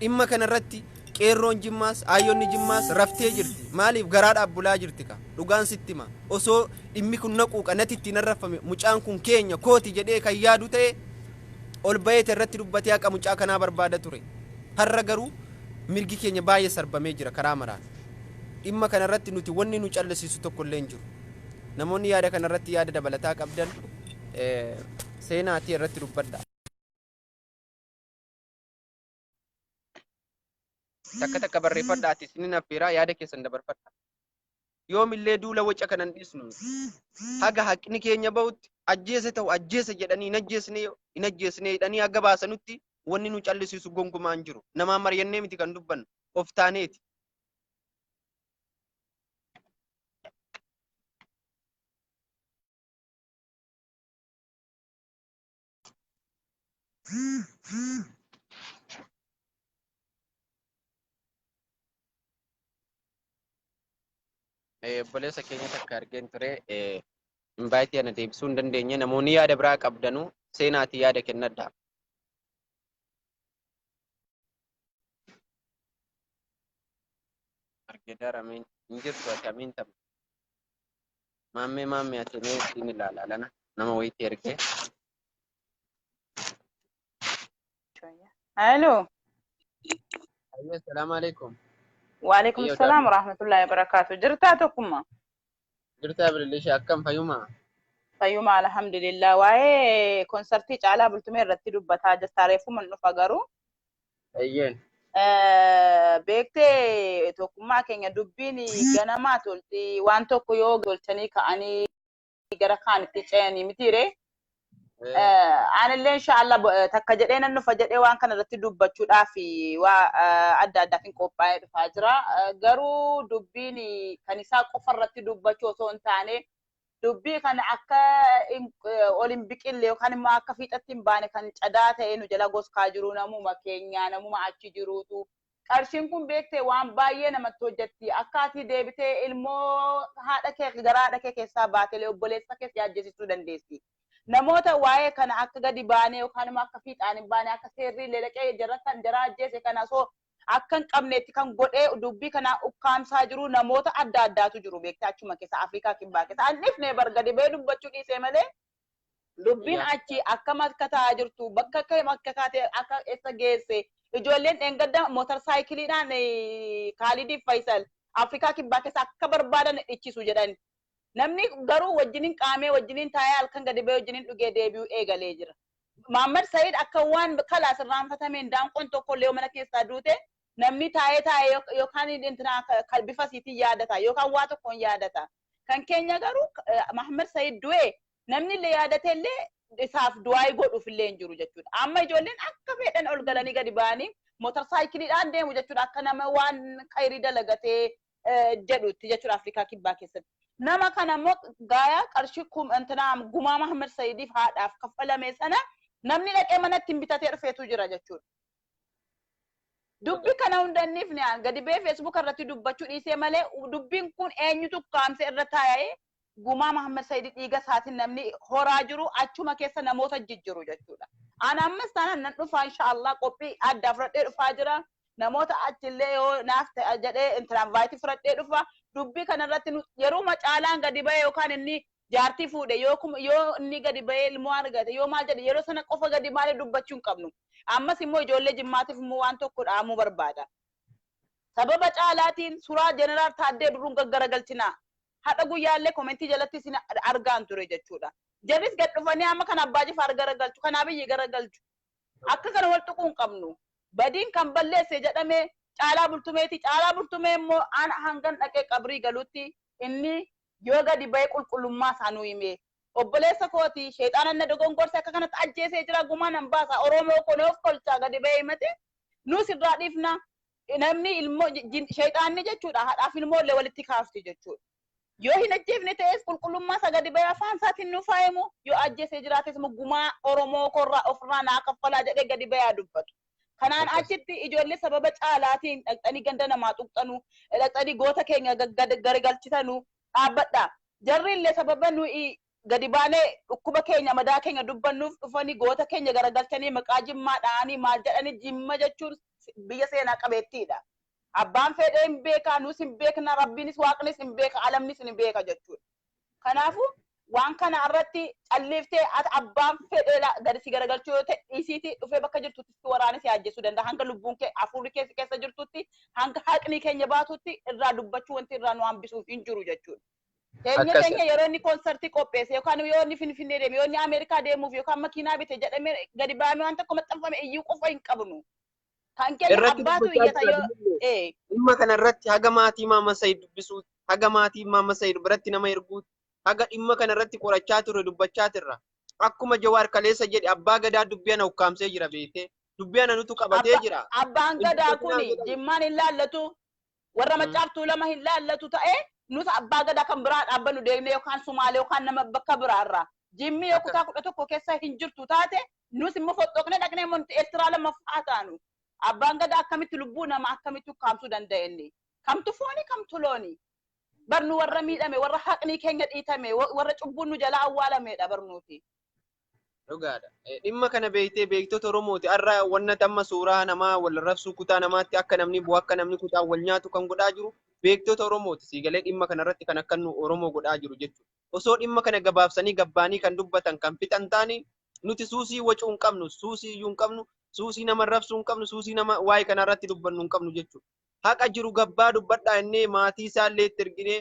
Dhimma kana irratti Qeerroon Jimmaas, Aayyonni Jimmaas raftee jirti. Maaliif garaadhaaf bulaa jirti kaa. Dhugaan sitti hima. Osoo dhimmi kun na quuqa, natti ittiin arrafame, mucaan kun keenya, kooti jedhee kan yaadu ta'e ol baheeti irratti dubbatee haqa mucaa kanaa barbaada ture. Har'a garuu mirgi keenya baay'ee sarbamee jira karaa maraan. Dhimma kana irratti nuti wanni nu callisiisu tokko illee hin jiru. Namoonni yaada kana irratti yaada dabalataa qabdan seenaatii irratti dubbadha. Takka takka barreeffadha ati isinin affeeraa yaada keessan dabarfadha. Yoomillee duula waca kanan dhiisnu haga haqni keenya bahutti ajjeese ta'u ajjeese jedhanii hin ajjeesne hin ajjeesne jedhanii haga baasanutti wanni nu callisiisu gonkumaa hin jiru. Namaan mari'annee miti kan dubbannu of taaneeti. obboleessa keenya takka argeen ture invaayitii ana deebisuu hin dandeenye namoonni yaada biraa qabdanu seenaatii yaada kennadha. Argeedara miin hin jirtu akkamiin taphata. Maammee maammee ati mee ittiin ilaala lana nama wayiitti ergee. Hello. Ayyee salaamu alaikum. Waalaikum Ayyoo salaam daadhii. warahmatullahi wabarakatuh. Jirtaa tokkummaa? Jirtaa bilillisha akkam fayyumaa? Fayyuma alhamdulillah. Waa'ee konsartii caalaa bultumee irratti dubbataa jirta. Reeffuman dhufa garuu Eeyyeen. Eh, beektee tokkummaa keenya dubbiin ganamaa tolti waan tokko yoo tolchanii ka'anii gara kaanitti ce'anii mitiire Eh, Eh, aanillee inshaallah bo- eh, takka jedhee nan dhufa jedhee waan kana irratti dubbachuudhaaf waa eh, adda addaatiin qophaa'ee dhufaa jira Eh, garuu dubbiin kan isaa qofa irratti dubbachuu osoo hin taane dubbii kana akka ol hin biqille yookaan immoo akka fiixatti hin baane kan cadaa ta'ee nu jala goskaa jiru namuma keenyaa namuma achi jiruutu qarshiin kun beektee waan baay'ee namatti hojjetti akka ati deebitee ilmoo haadha kee garaa haadha kee keessaa baatelee obboleessa kees yaajjesisuu dandeessi. Namoota waa'ee kana akka gadi baanee yookaan immoo akka fiixaan hin baane akka seerri illee dhaqee jarra kan jaraa ajjeese kana osoo akka hin qabneetti kan godhee dubbii kanaa ukkaamsaa jiru namoota adda addaatu jiru beektee achuma keessa Afrikaa kibbaa keessa an dhifnee bar gadi ba'ee dubbachuu dhiisee malee dubbiin Yaa achi akkam akka ta'aa jirtu bakka akka akka kaatee akka eessa geesse ijoolleen dheengadda motor saayikiliidhaan eh, Kaalidiif Faayisal Afrikaa kibbaa keessa akka barbaadan dhichisu jedhan namni garuu wajjiniin qaamee wajjiniin taa'ee halkan gadi ba'ee wajjiniin dhugee deebi'uu eegalee jira. Maammad Sa'iid akka waan kalaas irraanfatameen daanqoon tokkollee yoo mana keessaa duute namni taa'ee taa'ee yookaan intinaa kan bifa isiitiin yaadata yookaan waa tokkoon yaadata. Kan keenya garuu Maammad Sa'iid du'e namnillee yaadateellee isaaf du'aa'ii godhuufillee hin jiru jechuudha. Amma ijoolleen akka fedhan ol galanii gadi ba'anii motor saayikiliidhaan deemu jechuudha akka nama waan khayrii dalagatee jedhutti jechuudha Afrikaa Kibbaa keessatti. Nama kana immoo gaayaa qarshii intinaa gumaa Mahammad Sayidiif haadhaaf kaffalame sana namni dhaqee manatti hin bitatee dhufeetu jira jechuudha. Dubbi kana hundanniif ni aan gadi bee feesbuuka irratti dubbachuu dhiisee malee dubbiin kun eenyutu kaamsee irra taa'ee Gumaa Mahammad Said dhiiga isaatin namni horaa jiru achuma keessa namoota jijjiru jechuudha. An ammas taanaan nan dhufaa inshaa Allah qophii addaa fudhadhee dhufaa jira. Namoota achillee yoo naaf ta'a jedhee intiraanvaayitii fudhadhee dhufa. Dubbii kanarratti nu yeruma caalaan gadi ba'ee yookaan inni jaartii fuudhe yoo kuma yoo inni gadi ba'ee ilmoo argate yoo maal jedhe yeroo sana qofa gadi baanee dubbachuu hin qabnu. Ammas immoo ijoollee jimmaatiif immoo waan tokko dhaamuu barbaada. Sababa caalaatiin suraa jeneraal Taaddee Birruun gaggaragalchinaa. hadha guyyaalle komentii jalatti isin argaan ture jechuudha jarris gad dhufanii amma kan abbaa jifaar gara galchu kan abiyyi gara galchu akka kana wal tuquu hin qabnu badiin kan balleesse jedhame caalaa bultumeeti caalaa bultumee immoo aan hangan dhaqee qabrii galutti inni yoo gadi ba'ee qulqullummaa isaa nu himee obboleessa kooti sheexaanan na dogongorse akka kanatti ajjeesee jira gumaa nan baasa oromoo koo na of kolchaa gadi ba'ee himate nuus irraa dhiifna Namni ilmoo shayxaanni jechuudha haadhaaf ilmoo illee walitti kaafti jechuudha. Yoo hin ajjeefne ta'es qulqullummaa isaa gadi ba'ee afaan isaatiin nuuf haa himu yoo ajjeesee jiraates immoo gumaa Oromoo korraa ofirraa naa kaffalaa jedhee gadi ba'ee haa dubbatu. Kanaan Akkas. achitti ijoollee sababa caalaatiin dhaqxanii ganda namaa tuqxanu dhaqxanii goota keenya gad- gad- garagalchitanu dhaabbadha. Jarri illee sababa nuyi gadi baanee dhukkuba keenya madaa keenya dubbannuuf dhufanii goota keenya garagalchanii maqaa jimmaa dha'anii maal jedhanii jimma jechuun biyya seenaa qabeettiidha abbaan feedhee hin beekaa nuus hin beekna rabbiinis waaqnis hin beeka alamnis hin beeka jechuudha kanaafu waan kana irratti calliiftee ati abbaan fedhee gadi si garagalchuu yoo ta'e dhiisiiti dhufee bakka jirtutti si waraanee si ajjeesuu danda'a hanga lubbuun kee hafuurri kee si keessa jirtutti hanga haqni keenya baatutti irraa dubbachuu wanti irraa nu hambisuuf hin jiru jechuudha. Keenya Akkas- keenya yeroo inni koonsartii qopheesse yookaan yoo inni Finfinnee deeme yoo inni Ameerikaa deemuuf yookaan makiinaa bite jedhamee gadi baamee waan tokko maxxanfame iyyuu qofa hin qabnu. Kan keenya Irratti abbaatu dubbachaa iyyata jira yoo bilbilee. ee Dhimma kana irratti haga maatii Maama Sayid dubbisuutti, haga maatii Maama Sayid biratti nama erguutti, haga dhimma kana irratti qorachaa turre dubbachaa turra. Akkuma Jawaar Kaleessa jedhe abbaa gadaa dubbii ana ukkaamsee jira beektee. Dubbii ana nutu qabatee Abba- jira. abbaan Hin gadaa dubbatinaa kuni jedhani. jimmaan hin laallatu Warra Maccaaf Tuulama hin laallatu ta'e, nus Abbaa Gadaa kan biraa dhaabbannu deemnee yookaan Sumaalee yookaan nama bakka biraa irraa, Jimmii yoo kutaa 11 keessa hin jirtu taate, nus immoo foxxoqnee dhaqnee immoo nuti Eertiraa 2ffaa haa taanu. Abbaan Gadaa akkamitti lubbuu namaa akkamitti ukkaamsuu danda'a inni? Kamtu fooni kamtu looni? Bar nu warra miidhame, warra haqni keenya dhiitame, warra cubbuun nu jalaa awwaalamedha bar nuti. Dhugaadha. Eh, Dhimma kana beektee beektota Oromooti. Har'a wanna amma suuraa namaa wal rabsuu kutaa namaatti akka namni bu'u akka namni kutaa wal nyaatu kan godhaa jiru beektota Oromooti. Siigalee dhimma kanarratti kan akka nu Oromoo godhaa jiru jechuudha. Osoo dhimma kana gabaabsanii gabbaanii kan dubbatan kan fixan taanii nuti suusii wacuu hin qabnu, suusii iyyuu hin qabnu, suusii nama rabsuu hin qabnu, suusii nama waa'ee kanarratti dubbannu hin qabnu jechuudha. Haqa jiru gabbaa dubbadhaa innee maatii isaa illee itti erginee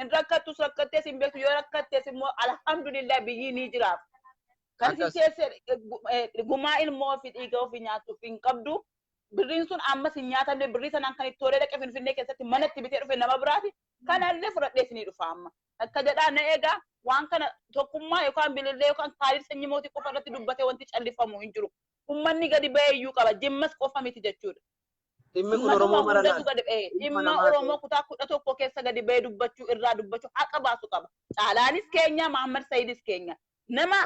Hin rakkattus rakkattees hin beektu yoo rakkattes immoo alhamdulillah biyyii ni jiraaf. Kan isin Akkas. teessee eh, gu- eh, gumaa ilmoo fi dhiiga ofii nyaattuuf hin qabdu. Birriin sun ammas hin nyaatamne birrii sanaan kan itti horee dhaqe finfinnee keessatti mana itti bitee dhufe nama biraati. Kanallee fudhadhee isinii dhufa amma. Akka jedhaa na egaa waan kana tokkummaa yookaan bilillee yookaan kaalid sanyii mootii qofa irratti dubbatee wanti callifamu hin jiru. Ummanni gadi bahee iyyuu qaba. Jimmas qofa miti jechuudha. Dhimmi kun Oromoo mara laata? Dhimma hundatu gadi bahee. Dhimma Oromoo kutaa 11 keessa gadi bahee dubbachuu irraa dubbachuu haqa baasu qaba. Caalaanis keenya, Mahaammad Sayiidis keenya. Nama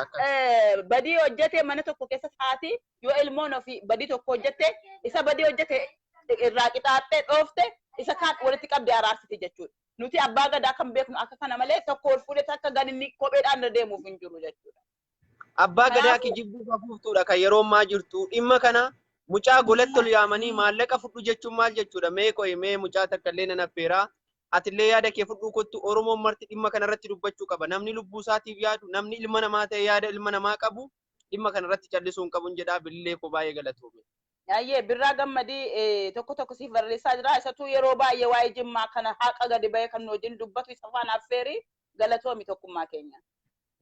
badii hojjate mana tokko keessatti haati yoo ilmoon ofii badii tokko hojjatte isa badii hojjate irraa qixaaxxee dhoofte isa kaan walitti qabdee araarsiti jechuudha. Nuti abbaa gadaa kan beeknu akka kana malee tokko ol fuudhee takka ganinni kopheedhaan irra deemuuf hin jiru jechuudha. Abbaa gadaa Kanaafuu- kijibduu hafuuftuudha kan yeroo ammaa jirtu. Dhimma kana mucaa golatti ol yaamanii maallaqa fudhu jechuun maal jechuudha? Mee qo'i mee mucaa takka illee nan affeeraa. Atillee yaada kee fudhuu kottu Oromoon marti dhimma kana irratti dubbachuu qaba. Namni lubbuu isaatiif yaadu, namni ilma namaa ta'e yaada ilma namaa qabu dhimma kana irratti callisuu hin qabun jedhaa bilillee koo baay'ee galatoomi. Ayyee birraa gammadii eh, tokko tokko siif barreessaa jira. Isatuu yeroo baay'ee waa'ee jimmaa kana haqa gadi ba'ee kan nu wajjin dubbatu isa faana affeeri galatoomi tokkummaa keenya.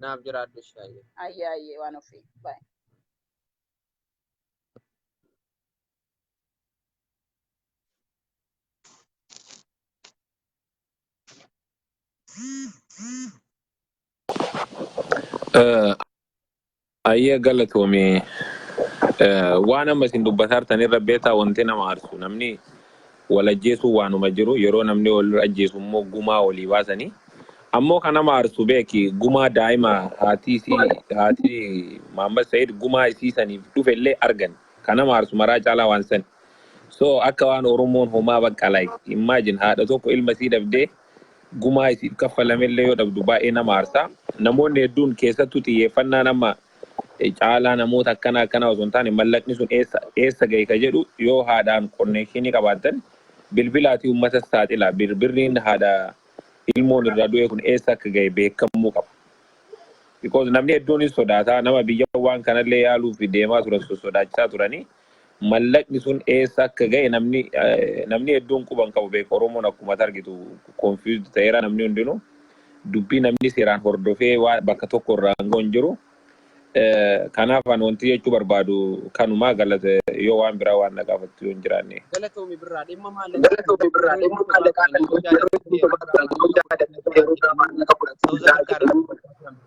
Naaf jiraadhu ishee ayyee. Ayyee ayyee waan ofii. Baay. Eh, Ayyee galatoomii eh, waan amma isin dubbataa jirtan irra beektaa wanti nama aarsu namni Wal ajjeesuun waanuma jiru yeroo namni wal ajjeesu immoo gumaa walii baasanii ammoo kan nama aarsu beeki gumaa daa'ima haati isii haati Mahammad Said gumaa isii saniif dhufe illee argani kan nama aarsu maraa caalaa waan sani so akka waan oromoon homaa bakka like imagine haadha tokko ilma isii dhabdee gumaa isiif kaffalame illee yoo dhabdu baay'ee nama aarsa namoonni hedduun keessattuu xiyyeeffannaan amma caalaa namoota akkana akkana osoo hin taane mallaqni sun eessa eessa gahe ka jedhu yoo haadhaan konneekshinii qabaattan bilbilaatii uummatas saaxilaa bir birriin haadha ilmoon irraa du'ee kun eessa akka gahe beekamuu qaba. Because namni hedduunis sodaataa nama biyya waan kanallee yaaluuf deemaa turan sossodaachisaa turanii mallaqni sun eessa akka ga'e namni namni hedduun quba hin qabu beeka Oromoon akkuma ati argitu confused ta'eera namni hundinuu dubbii namni seeraan hordofee waa bakka tokko irraa hangoo hin jiru kanaaf an wanti jechuu barbaadu kanumaa galata yoo waan biraa waan na gaafattu yoo hin jiraanne. Galatoomi birraa dhimma maallaqaa kana Galatoomi birraa yeroo dhimma gabaabaa maallaqaa kana kana yeroo yeroo gabaabaa gabaabaa kana yeroo gabaabaa kana Saawuz Afrikaa irraa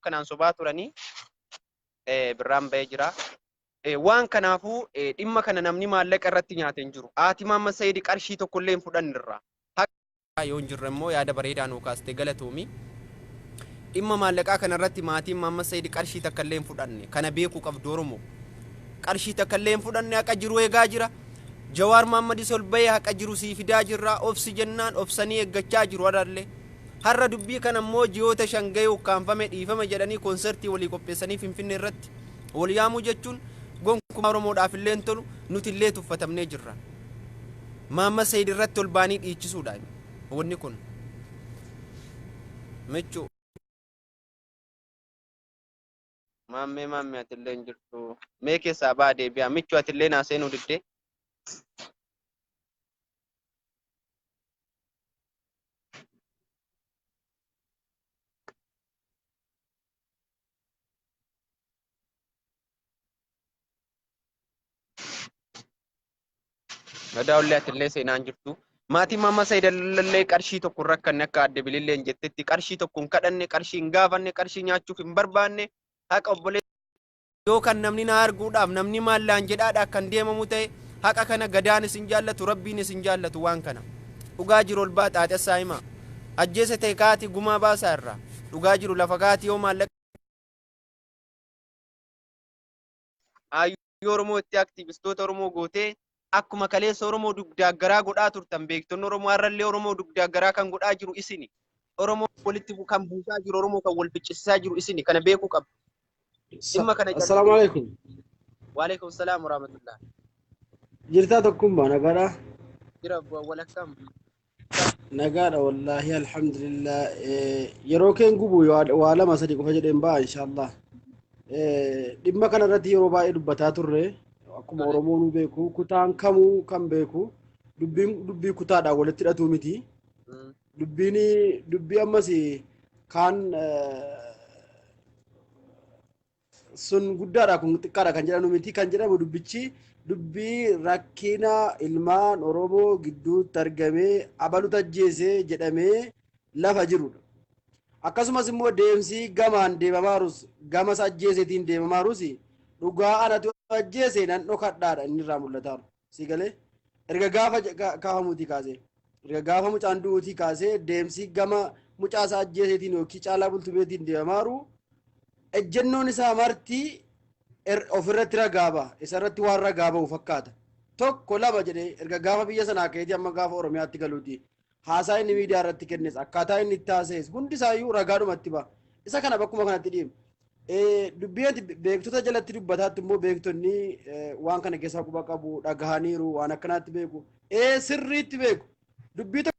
kanaan sobaa turanii birraan ba'ee jira. Waan kanaafuu dhimma kana namni maallaqa irratti nyaate hin jiru. Haati Maamma Sa'iid qarshii tokko illee hin fudhannirra. Yoo hin jirre immoo yaada bareedaa nuu kaaste galatoomi. Dhimma maallaqaa kana irratti maatiin Maamma Sa'iid qarshii takka illee hin fudhanne. Kana beekuu qabdu Oromoo. Qarshii takka illee hin fudhanne haqa jiru eegaa jira. Jawaar Maammadis ol ba'ee haqa jiru sii fidaa jirra. Obsi jennaan obsanii eeggachaa jiru har'allee. Har'a dubbii kana immoo ji'oota shan gahee ukkaamfame dhiifama jedhanii konsertii walii qopheessanii Finfinnee irratti wal yaamuu jechuun gonkumaa Oromoodhaaf illee hin tolu nuti illee tuffatamnee jirra. Maamma Sayid irratti ol baanii dhiichisuudha wanni kun. Michuu. Maammee maammee atillee hin jirtu. Mee keessaa baa deebi'aa. Michuu atillee naa seenuu diddee. Gadaa ollee atillee seenaan jirtu. Maatiin Maammaa Sayiidallee qarshii tokko rakkanne akka adde bililleen jettetti qarshii tokko hin kadhanne qarshii hin gaafanne qarshii nyaachuuf hin barbaanne haqa obbolee yoo kan namni na arguudhaaf namni maallaan jedhaadha kan deemamu ta'e haqa kana gadaan isin jaallatu rabbiin isin jaallatu waan kana dhugaa jiru ol baa xaaxessaa himaa ajjeese ta'e kaati gumaa baasaa irraa dhugaa jiru lafa kaati yoo maallaqa Hayyuu Oromoo itti aktiivistoota Oromoo gootee akkuma kaleessa Oromoo dugdaaggaraa godhaa turtan beektonni Oromoo har'allee Oromoo dugdaaggaraa kan godhaa jiru isini. Oromoo walitti bu- kan buusaa jiru Oromoo kan wal ficcisiisaa jiru isini kana beekuu qabdu. Dhimma kana Assalaamu jallisee alaikum. waalaikum salaam warahmatullah. Jirtaa tokkummaa nagaadhaa. Jira bu- walakkaan Nagaadha wallaahi alhamdulillah yeroo keen gubu waa lama sadi qofa jedheen ba'a inshaallah dhimma kana irratti yeroo baay'ee dubbataa turre akkuma oromoon beeku kutaan kamuu kan beeku dubbiin dubbii kutaadhaan walitti hidhatuu miti dubbiin dubbii ammas kaan sun guddaadha kun xiqqaadha kan jedhamu miti kan jedhamu dubbichi dubbii rakkina ilmaan Oromoo gidduutti argamee abalutu ajjeese jedhamee lafa jirudha. Akkasumas immoo deemsi gamaan deemamaarus gamas ajjeeseetiin deemamaarus dhugaa anatu ajjeese nan dhokadhaadha inni irraa mul'ataaru. sii galee erga gaafa je- ka- kaafamuutii kaasee erga gaafa mucaan du'uutii kaasee deemsi gama mucaa isaa ajjeeseetiin yookiin caalaa bultumeetiin deemaaru ejjennoon isaa marti er- ofirratti ragaa ba'a isarratti waan ragaa ba'u fakkaata tokko lama jedhee erga gaafa biyya sanaa ka'eetii amma gaafa oromiyaatti galuuti Haasaa inni miidiyaa irratti kennes akkaataa inni itti haasa'es hundi isaayyuu ragaadhuma itti ba'a. Isa kana bakkuma kanatti dhiibna. Dubbii ati beektota jalatti dubbataatti immoo beektonni waan kana keessaa quba qabu dhagahaniiru waan akkanaatti beeku. Ee sirriitti beeku. Dubbii tokko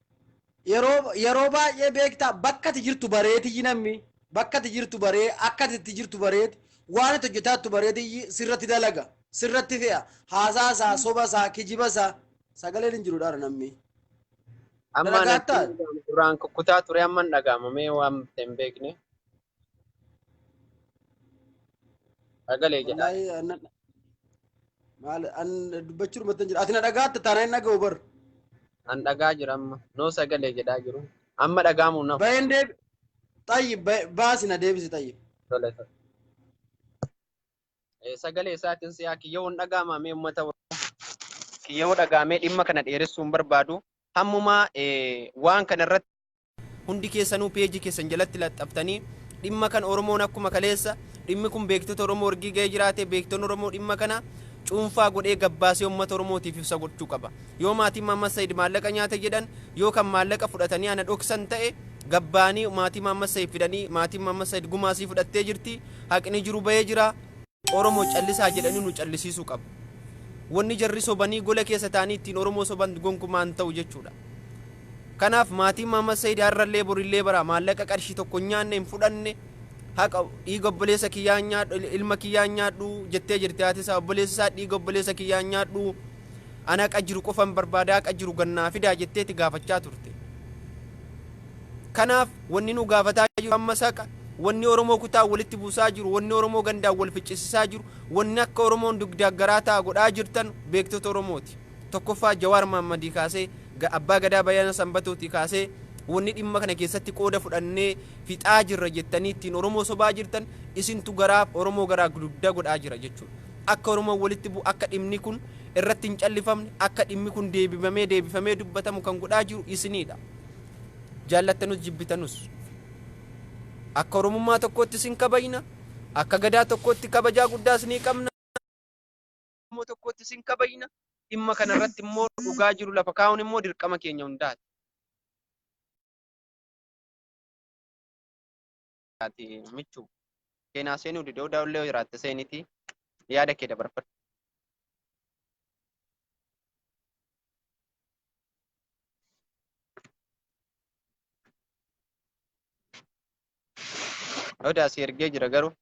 Yeroo yeroo baay'ee beektaa bakka ati jirtu bareetiyyi namni bakka ati jirtu baree akka ati itti jirtu bareeti waan ati hojjetaa jirtu bareetiyyi sirratti dalaga sirratti fe'a haasaa isaa soba isaa kijiba isaa sagaleen hin jiru dhaara namni Amma dalagaa natti hin ta'a. dhaga'amu duraan kukkutaa ture amma hin dhaga'ama mee waan ta'e hin beekne. Sagalee jedhaa. Wallaahi anna maal an dubbachuu dhumatti hin jiru. Ati na dhagaatta taanaa hin dhaga'u bar. An dhagaa jira amma. Noo sagalee jedhaa jiru. Amma dhagaamu naf. Bayeen deebi. Xayyi baasi na deebisi xayyi. Tole tole. Eh, Sagalee isaatiin si'aa kiyyoo hin dhagaamaa mee uummata Oromoo. Kiyyoo dhagaamee dhimma kana dheeressuu hin barbaadu. Hammumaa eh, waan kana irratti Hundi keessanuu page keessan jalatti laxxaftanii dhimma kan Oromoon akkuma kaleessa dhimmi kun beektota Oromoo ergii ga'ee jiraate beektoon Oromoo dhimma kana cuunfaa godhee gabbaasee uummata Oromootiif ibsa gochuu qaba. Yoo maatiin Maammas Sayid maallaqa nyaate jedhan yoo kan maallaqa fudhatanii ana dhoksan ta'e gabbaanii maatii Maammas Sayid fidanii maatiin Maammas Sayid gumaa sii fudhattee jirti haqni jiru ba'ee jira. Oromo callisaa jedhanii nu callisiisuu qabu. Wanni jarri sobanii gola keessa ta'anii ittiin Oromoo soban gonkumaa hin ta'u jechuudha. Kanaaf maatiin Mahammad Said har'allee borillee bara maallaqa qarshii tokko hin nyaanne hin fudhanne haqa dhiiga obboleessa kiyyaa hin nyaadhu ilma kiyyaa hin nyaadhu jettee jirti haati isaa obboleessi isaa dhiiga obboleessa kiyyaa hin nyaadhu ana haqa jiru qofan barbaada haqa jiru gannaa fidaa jetteeti gaafachaa turte. Kanaaf wanni nu gaafataa jiru ammas haqa, wanni Oromoo kutaan walitti buusaa jiru, wanni Oromoo gandaan wal ficcisisaa jiru, wanni akka Oromoon dugdaaf garaa ta'a godhaa jirtan beektota Oromooti. Tokkoffaa Jawaar Mahammadii kaasee, Abbaa Gadaa Bayana Sanbatootii kaasee wanni dhimma kana keessatti qooda fudhannee fixaa jirra jettanii ittiin Oromoo sobaa jirtan isintu garaa Oromoo garaa dugda godhaa jira jechuudha. Akka Oromoon walitti bu'u, akka dhimni kun irratti hin callifamne, akka dhimmi kun deebifamee deebifamee dubbatamu kan godhaa jiru isiniidha. Jaallattanus jibbitanus akka Oromummaa tokkootti isin kabajna, akka Gadaa tokkootti kabajaa guddaa isinii qabna, akka Oromoo tokkootti isin kabajna, dhimma kana irratti immoo dhugaa jiru lafa kaa'uun immoo dirqama keenya hundaati. ati michu keenaa seenuu dide odaa illee jiraatte seeniti yaada kee dabarfadhu. Odaa si ergee jira garuu.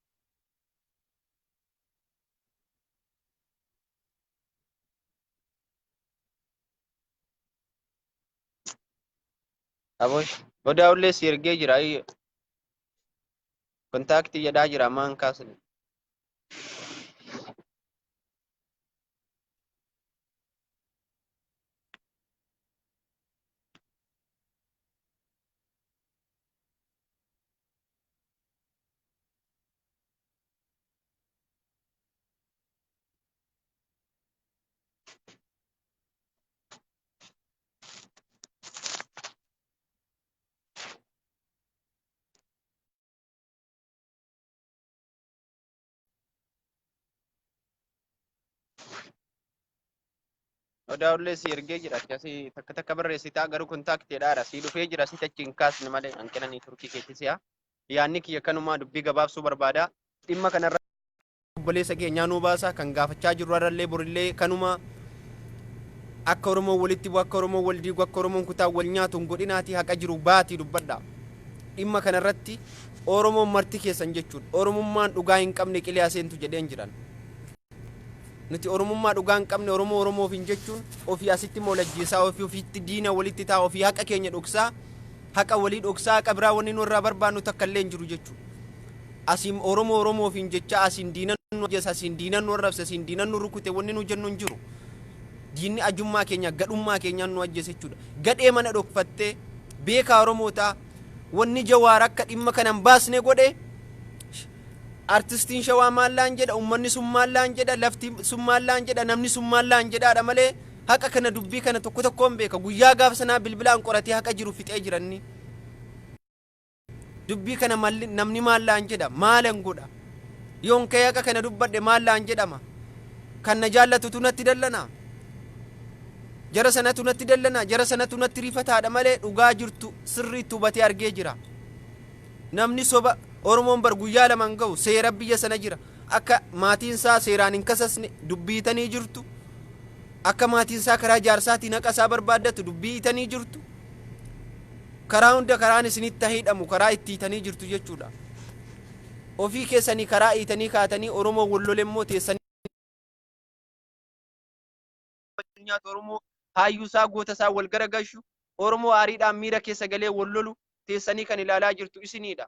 Abosh. Odaa ullee si ergee jira. ayyo. Kontaaktii jedhaa jira ammaa hin kaasne. Odaa ullee si ergee jira akkasi takka takka barreessitaa garuu kontaaktiidhaadha si dhufee jira si tachi hin kaasne malee hanqina neetworkii keetti si'a. Yaanni kiyya kanumaa dubbii gabaabsuu barbaada. Dhimma kanarra Obboleessa keenyaa nuu baasa kan gaafachaa jirru har'allee borillee kanuma akka Oromoon walitti bu'u akka Oromoon wal diigu akka Oromoon kutaan wal nyaatu hin godhinaatii haqa jiru baatii dubbadha. Dhimma kanarratti Oromoon marti keessan jechuudha. Oromummaan dhugaa hin qabne qilee aseentu jedheen jiran. Nuti Oromummaa dhugaa hin qabne Oromoo Oromoofiin jechuun ofii asitti moolajjeessaa ofii ofiitti diina walitti ta'a ofii haqa keenya dhoksaa Haqa walii dhoksaa haqa biraa wanni nu irraa barbaannu takka illee hin jiru jechuu. Asiin Oromoo Oromoo ofiin jechaa asiin diinan nu ajjeese asiin diinan nu arrabse asiin diinan nu rukute wanni nu jennu hin jiru. Diinni ajummaa keenya gadhummaa keenyaan nu ajjeese jechuudha. Gadhee mana dhokfattee beekaa Oromoo ta'a. Wanni Jawaar akka dhimma kana hin baasne godhe artistiin shawaa maallaan jedha ummanni sun maallaan jedha lafti sun maallaan jedha namni sun maallaan jedhaadha malee haqa kana dubbii kana tokko tokkoon beeka guyyaa gaafa sanaa bilbilaan qoratee haqa jiru fixee jiranni dubbii kana malli namni maallaan jedha maalan godha yoon ka'ee haqa kana dubbadhe maallaan jedhama kan na jaallatutu natti dallana jara sanatu natti dallana jara sanatu natti rifataadha malee dhugaa jirtu sirriitti hubatee argee jira namni soba oromoon bar guyyaa laman ga'u seera biyya sana jira Akka maatiin isaa seeraan hin kasasne dubbii itanii jirtu. Akka maatiin isaa karaa jaarsaatiin haqa isaa barbaaddatu dubbii itanii jirtu. Karaa hunda karaan isinitti hidhamu karaa itti hiitanii jirtu jechuudha. Ofii keessanii karaa hiitanii kaatanii Oromoo wal lole immoo teessanii gammachuu nyaatu Oromoo haayyuusaa gootasaa wal garagalchu Oromoo aariidhaan miira keessa galee wal lolu teessanii kan ilaalaa jirtu isiniidha.